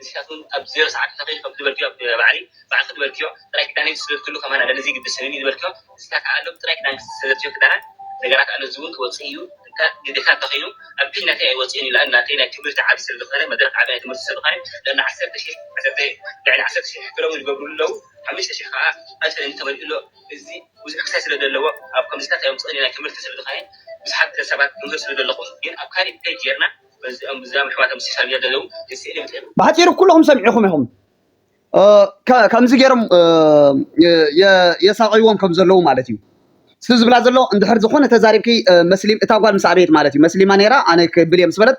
ንሲኻትኩም ኣብ ዜሮ ሰዓት ፈኺኽ ከም ዝበልክዮ ኣብ ባዕዲ ባዕልኺ ዝበልክዮ ጥራይ ክዳነይ ዝስደድ ኩሉ ከማን ኣለኒ ዘይግድሰኒ ዝበልክዮ ንሲካ ካኣ ሎሚ ጥራይ ክዳንኪ ዝሰደድክዮ ክዳናት ነገራት ኣሎ እዚውን ክወጽእ እዩ እንተ ግዴታ እንተኺይኑ ኣብ ፔጅ ናተይ ኣይወጽእን እዩ ላኣን ናተይ ናይ ትምህርቲ ዓቢ ስለዝኾነ መድረኽ ዓቢ ናይ ትምህርቲ ስለዝኾነ ልዕሊ ዓሰርተ ሺሕ ዓሰርተ ልዕሊ ዓሰርተ ሺሕ ሕክሎውን ይገብርሉ ኣለው ሓምሽተ ሺሕ ካኣ ኣንተለኒ ተመሊኡ ኣሎ እዚ ብዙሕ ክሳይ ስለደለዎ ኣብ ከምዚታት ኣይውጽእን እዩ ናይ ትምህርቲ ስለዝኾነ ብዙሓት ሰባት ትምህር ስለደለኹም ግን ኣብ ካሊእ ፔጅ ጌርና ባሕጺሩ ኩሉኹም ሰሚዒኹም ኢኹም ከምዚ ገይሮም የሳቐይዎም ከም ዘለዉ ማለት እዩ። እቲ ዝብላ ዘሎ እንድሕር ዝኾነ ተዛሪብኪ መስሊም እታ ጓል ምስ ኣበየት ማለት እዩ መስሊማ ነይራ ኣነ ክብል እየ ምስ በለት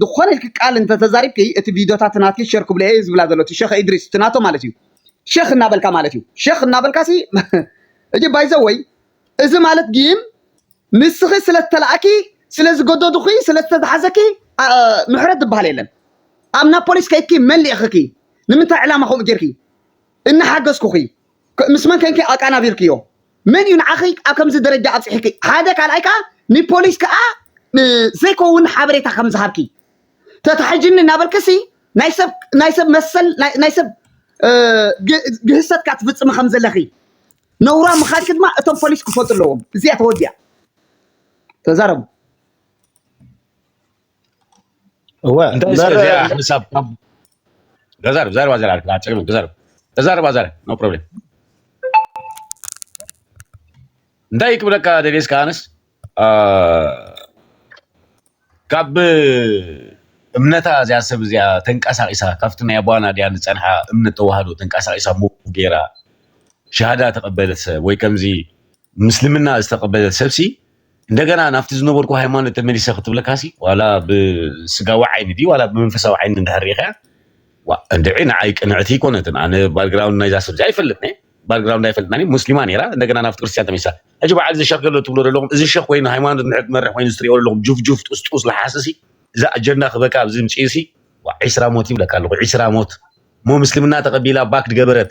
ዝኾነ ኢልኪ ቃል እንተተዛሪብኪ እቲ ቪድዮታት ናትኪ ሸር ክብሎ እየ ዝብላ ዘሎ እቲ ሸኽ ኢድሪስ እቲ ናቶ ማለት እዩ ሸኽ እናበልካ ማለት እዩ ሸኽ እናበልካሲ እጂ ባይዘወይ እዚ ማለት ጊን ንስኺ ስለዝተላእኪ ስለዝገደዱኺ ስለዝተታሕዘኪ ምሕረት ዝባሃል የለን ኣብ ናብ ፖሊስ ከይድኪ መን ሊእኽኪ ንምንታይ ዕላማ ከምኡ ጌርኪ እናሓገዝኩኺ ምስ መን ከንኪ ኣቃናቢርክዮ መን እዩ ንዓኺ ኣብ ከምዚ ደረጃ ኣብፅሒኪ ሓደ ካልኣይ ከዓ ንፖሊስ ከዓ ዘይከውን ሓበሬታ ከም ዝሃብኪ ተታሒጅኒ እናበልክሲ ናይ ሰብ ናይ ሰብ መሰል ናይ ሰብ ግህሰትካ ትፍፅሚ ከም ዘለኺ ነውራም ምኻድኪ ድማ እቶም ፖሊስ ክፈልጡ ኣለዎም። እዚኣ ተወዲኣ ተዛረቡ። እወ እንታይ እዚኣ እምበር እዚኣ ሕሳብ ካብ ገዛርብ ዛረብ ኣዘራር ኣጨቅሚ ገዛርብ ተዛረብ ኣዘራር ኖ ፕሮብሌም እንታይ ክብለካ ደልየስ ከኣነስ አ፣ ካብ እምነታ እዚኣ ሰብ እዚኣ ተንቀሳቒሳ ካብቲ ናይ ኣቡኣ ናዲያ ዝጸንሓ እምነት ተዋህዶ ተንቀሳቒሳ ሙቭ ገይራ ሸሃዳ ተቐበለት ሰብ ወይ ከምዚ ምስልምና ዝተቐበለት ሰብሲ እንደገና ናብቲ ዝነበርኩ ሃይማኖት ተመሊሰ ክትብለካሲ ዋላ ብስጋዊ ዓይኒ ድዩ ዋላ ብመንፈሳዊ ዓይኒ እንድሕር ርኢኻያ ዋ እንድዒ ንዓይ ቅንዕቲ ኣይኮነትን ኣነ ባክግራውንድ ናይዛ ሰብ እዚኣ ይፈልጥ እየ ባክግራውንዳ ኣይፈልጥናን እዩ ሙስሊማ ነይራ እንደገና ናብቲ ክርስትያን ተመሊሳ ሕጂ በዓል እዚ ሸኽ ገሎ ትብሎ ዘለኹም እዚ ሸኽ ኮይኑ ሃይማኖት ንሕድ መርሕ ኮይኑ ዝትሪኦ ዘለኹም ጁፍጁፍ ጥስጡስ ለሓስሲ እዚ ኣጀንዳ ክበካ ኣብዚ ምጪሲ ዋ ዒስራ ሞት ይብለካ ኣለኹ ዒስራ ሞት እሞ ምስልምና ተቐቢላ ባክ ድገበረት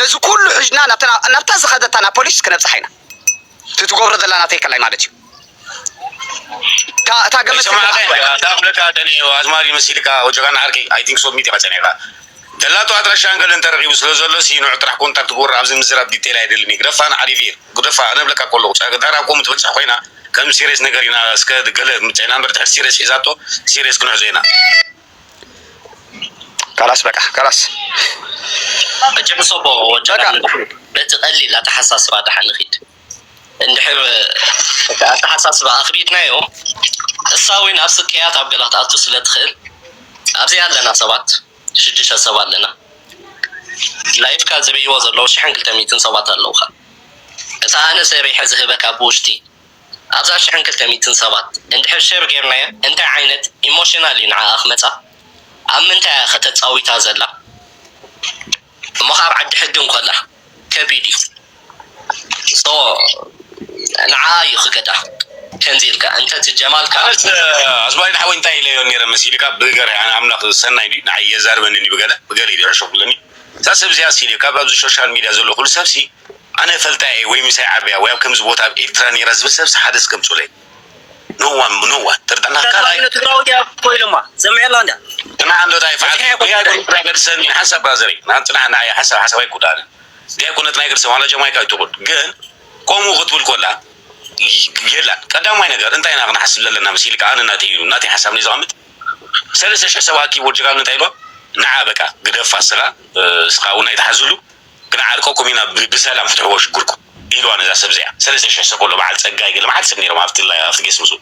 ነዚ ኩሉ ሒዝና ናብታ ናብታ ዝኸደታ ናብ ፖሊስ ክነብጽሓ ኢና እቲ ትገብሮ ዘላ ናተይ ከላይ ማለት እዩ እታ እታ ገመድ ሰማዕከ ትብላዕ እንዳ እንዳ ፍለካ ደኒ ኣዝማሪ መሲልካ ወጀጋና ዓርኪ ኣይ ቲንክ ሶ ሚት ኢኻ ጸኒሕካ ደላቶ ኣድራሻን ገለን ተረኺቡ ስለ ዘሎ ሲኑዕ ጥራሕ ኮንታክት ግበሮ ኣብዚ ምዝራብ ዲቴል ኣይደልን እዩ ግደፋ ንዓሊቪር ግደፋ ኣነ እብለካ ከለኹ ጸ ዳር ኣብ ከምኡ ትበጽሕ ኮይና ከም ሲሪየስ ነገር ኢና እስከ ገለ ምጸና እምበር ድሕሪ ሲሪየስ ሒዛቶ ሲሪየስ ክንሕዞ ኢና ካላስ በቃ ካላስ እጅም ሶቦ ወጀራ በቲ ቀሊል ኣተሓሳስባ ድሓ ንኺድ እንድሕር እቲ ኣተሓሳስባ ኣኽቢድናዮ እሳ እውን ኣብ ስቅያት ኣብ ገላ ክትኣቱ ስለ ትኽእል ኣብዚ ኣለና ሰባት ሽዱሽተ ሰብ ኣለና ላይፍካ ዝርእይዎ ዘለዉ ሽሕን ክልተ ሚእትን ሰባት ኣለዉኻ እታ ኣነ ሰሪሐ ዝህበካ ብውሽጢ ኣብዛ ሽሕን ክልተ ሚትን ሰባት እንድሕር ሸር ጌርናያ እንታይ ዓይነት ኢሞሽናል እዩ ንዓኣ ክመጻ ኣብ ምንታይ እያ ከ ተጻዊታ ዘላ እሞ ከኣ ኣብ ዓዲ ሕጊ እንኮላ ከቢድ እዩ so ንዓኣ እዩ ክገዳ ከምዚ ኢልካ እንተ ትጀማልካ። ኣነስ ኣዝማሪኖ ሓወይ እንታይ ኢለዮ ኔረ መሲልካ ብገርሂ ኣነ ኣምላኽ ሰናይ ድዩ ንዓይ የዛርበኒ ድዩ ብገለ ብገለ ኢዩ ዝዕሾ ክብለኒ እዛ ሰብ እዚኣስ ኢለዮ ካብ ኣብዚ ሾሻል ሚድያ ዘሎ ኩሉ ሰብሲ ኣነ እፈልጣ ኢየ ወይ ምሳይ ዓብያ ወይ ኣብ ከምዚ ቦታ ኣብ ኤርትራ ኔራ ዝብል ሰብስ ሓደስ ገምጹለይ no one no one ጥርጠና ካልኣይ እንተ ትግራወይቲ ኢያ እኮ ኢሎማ ሰሚዐላ እንድያ ጽናሕ ኣንዶ ታይ ይፍዓል ዲያ ኣይኮነት ናይ ገድሰ ን ሓንሳብ ብራዘረይ ን ጽናሕ ንዓይ ሓሳብ ሓሳብ ኣይኩዳኣንን ዲያ ኣይኮነት ናይ ገድሰ ዋላ ጀማይካ ይትኩን ግን ኮምኡ ክትብል ኮላ የላን ቀዳማይ ነገር እንታይ ኢና ክንሓስብ ዘለና መሲልካ ኣነ ናተይ ኢሉ ናተይ ሓሳብ ነይ ዘቀምጥ ሰለስተ ሽሕ ሰብ ኣኪቡ ጅራሉ እንታይ ኢልዋ ንዓ በቃ ግደፋ ስጋ ስኻ ውን ኣይትሓዝሉ ክንዓርቀኩም ኢና ብሰላም ፍትሕዎ ሽግርኩም ኢልዋ ነዛ ሰብ እዚኣ ሰለስተ ሽሕ ሰቆሎ በዓል ጸጋይ ገለ መዓት ሰብ ኔሮም ኣብቲ ላይቭ ኣብቲ ጌስት ምስኡ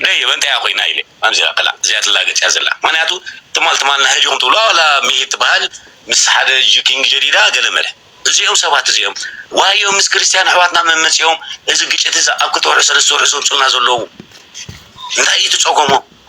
ደይ እየ በእንታያ ኮይና ኢለ ኣምዚራ ከላ እዚኣ ትላገጽ እያ ዘላ ምክንያቱ ትማል ትማል ናሀጂኩም ትብላ ዋላ ሚሂር ትበሃል ምስ ሓደ ኪንግ ጀዲዳ ገለ መለ እዚኦም ሰባት እዚኦም ዋዮ ምስ ክርስትያን ኣሕዋትና መመጺኦም እዚ ግጭት እዚ ኣብ ክልተ ወርሒ ሰለስተ ወርሒ ዘምጹልና ዘለዉ እንታይ እዩ እቲ ጸገሞም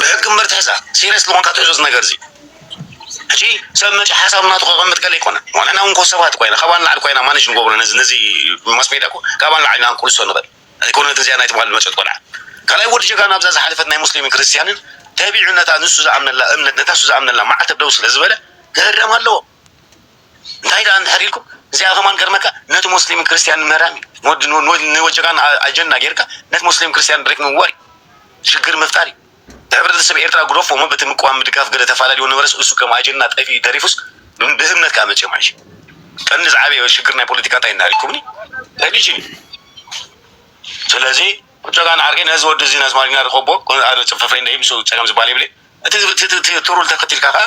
ብሕጊ እምበር ትሕዛ ሲርየስ ዝኾንካ ትሕዞ እዚ ነገር እዚ ሕጂ ሰብ መጺኡ ሓሳብ ናቱ ከቐምጥ ገለ ይኮነ ንሕና እውን ኮ ሰባት እኮ ኢና ካብኣ ንላዕሊ እኮ ኢና ማነጅ ንገብሮ ነዚ ነዚ ማስ ሜድያ እኮ ካብኣ ንላዕሊ ኢና ክንቅልሶ ንኽእል ኣይኮነት እዚኣ ናይ ትማሊ ዝመጸት ቆልዓ ካልኣይ ወዲ ጀጋኑ ኣብዛ ዝሓለፈት ናይ ሙስሊምን ክርስትያንን ተቢዑ ነታ ንሱ ዝኣምነላ እምነት ነታ ንሱ ዝኣምነላ መዓልቲ ደው ስለ ዝበለ ክህረም ኣለዎ እንታይ ደኣ እንድሕር ኢልኩም እዚኣ ከማን ክገርመካ ነቲ ሞስሊምን ክርስትያንን ምህራም እዩ ንወዲ ንወጀካ ኣጀንዳ ጌርካ ነቲ ሞስሊምን ክርስትያንን ድሬክ ምውዋይ ሽግር ምፍጣር እዩ ንሕብረተሰብ ኤርትራ ጉደፎ እሞ በቲ ምቅዋም ምድጋፍ ገለ ተፋላልዮ ነበረስ እሱ ከም ኣጀንዳ ጠፊኡ ተሪፉስ ብእምነት ከዓ መፅኦም ሕጂ ቀንዲ ዝዓበየ ሽግር ናይ ፖለቲካ እንታይ እንድሕር ኢልኩምኒ ሪሊጅን እዩ ስለዚ ቁጨጋ ንዓርከይ ነዚ ወዲ እዚ ነዚ ማሪና ርኸቦ ኣነ ፅፍፍረይ ንደይ ምስ ፀገም ዝበሃል የብለይ እቲ ትሩል ተኸቲልካ ከዓ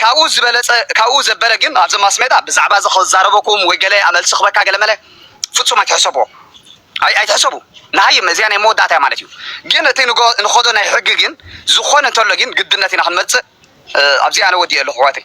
ካብኡ ዝበለጸ ካብኡ ዘበለ ግን ኣብዚ ማስሜዳ ብዛዕባ እዚ ክዛረበኩም ወይ ገለ ኣመልሲ ክበካ ገለመለ ፍጹም ኣይትሕሰብዎ ኣይ ኣይትሕሰቡ ንሃይም እዚኣ ናይ መወዳእታ እያ ማለት እዩ ግን እቲ ንጎ ንኸዶ ናይ ሕጊ ግን ዝኾነ እንተሎ ግን ግድነት ኢና ክንመጽእ ኣብዚ ኣነ ወዲኤ ኣለኹ ኣሕዋተይ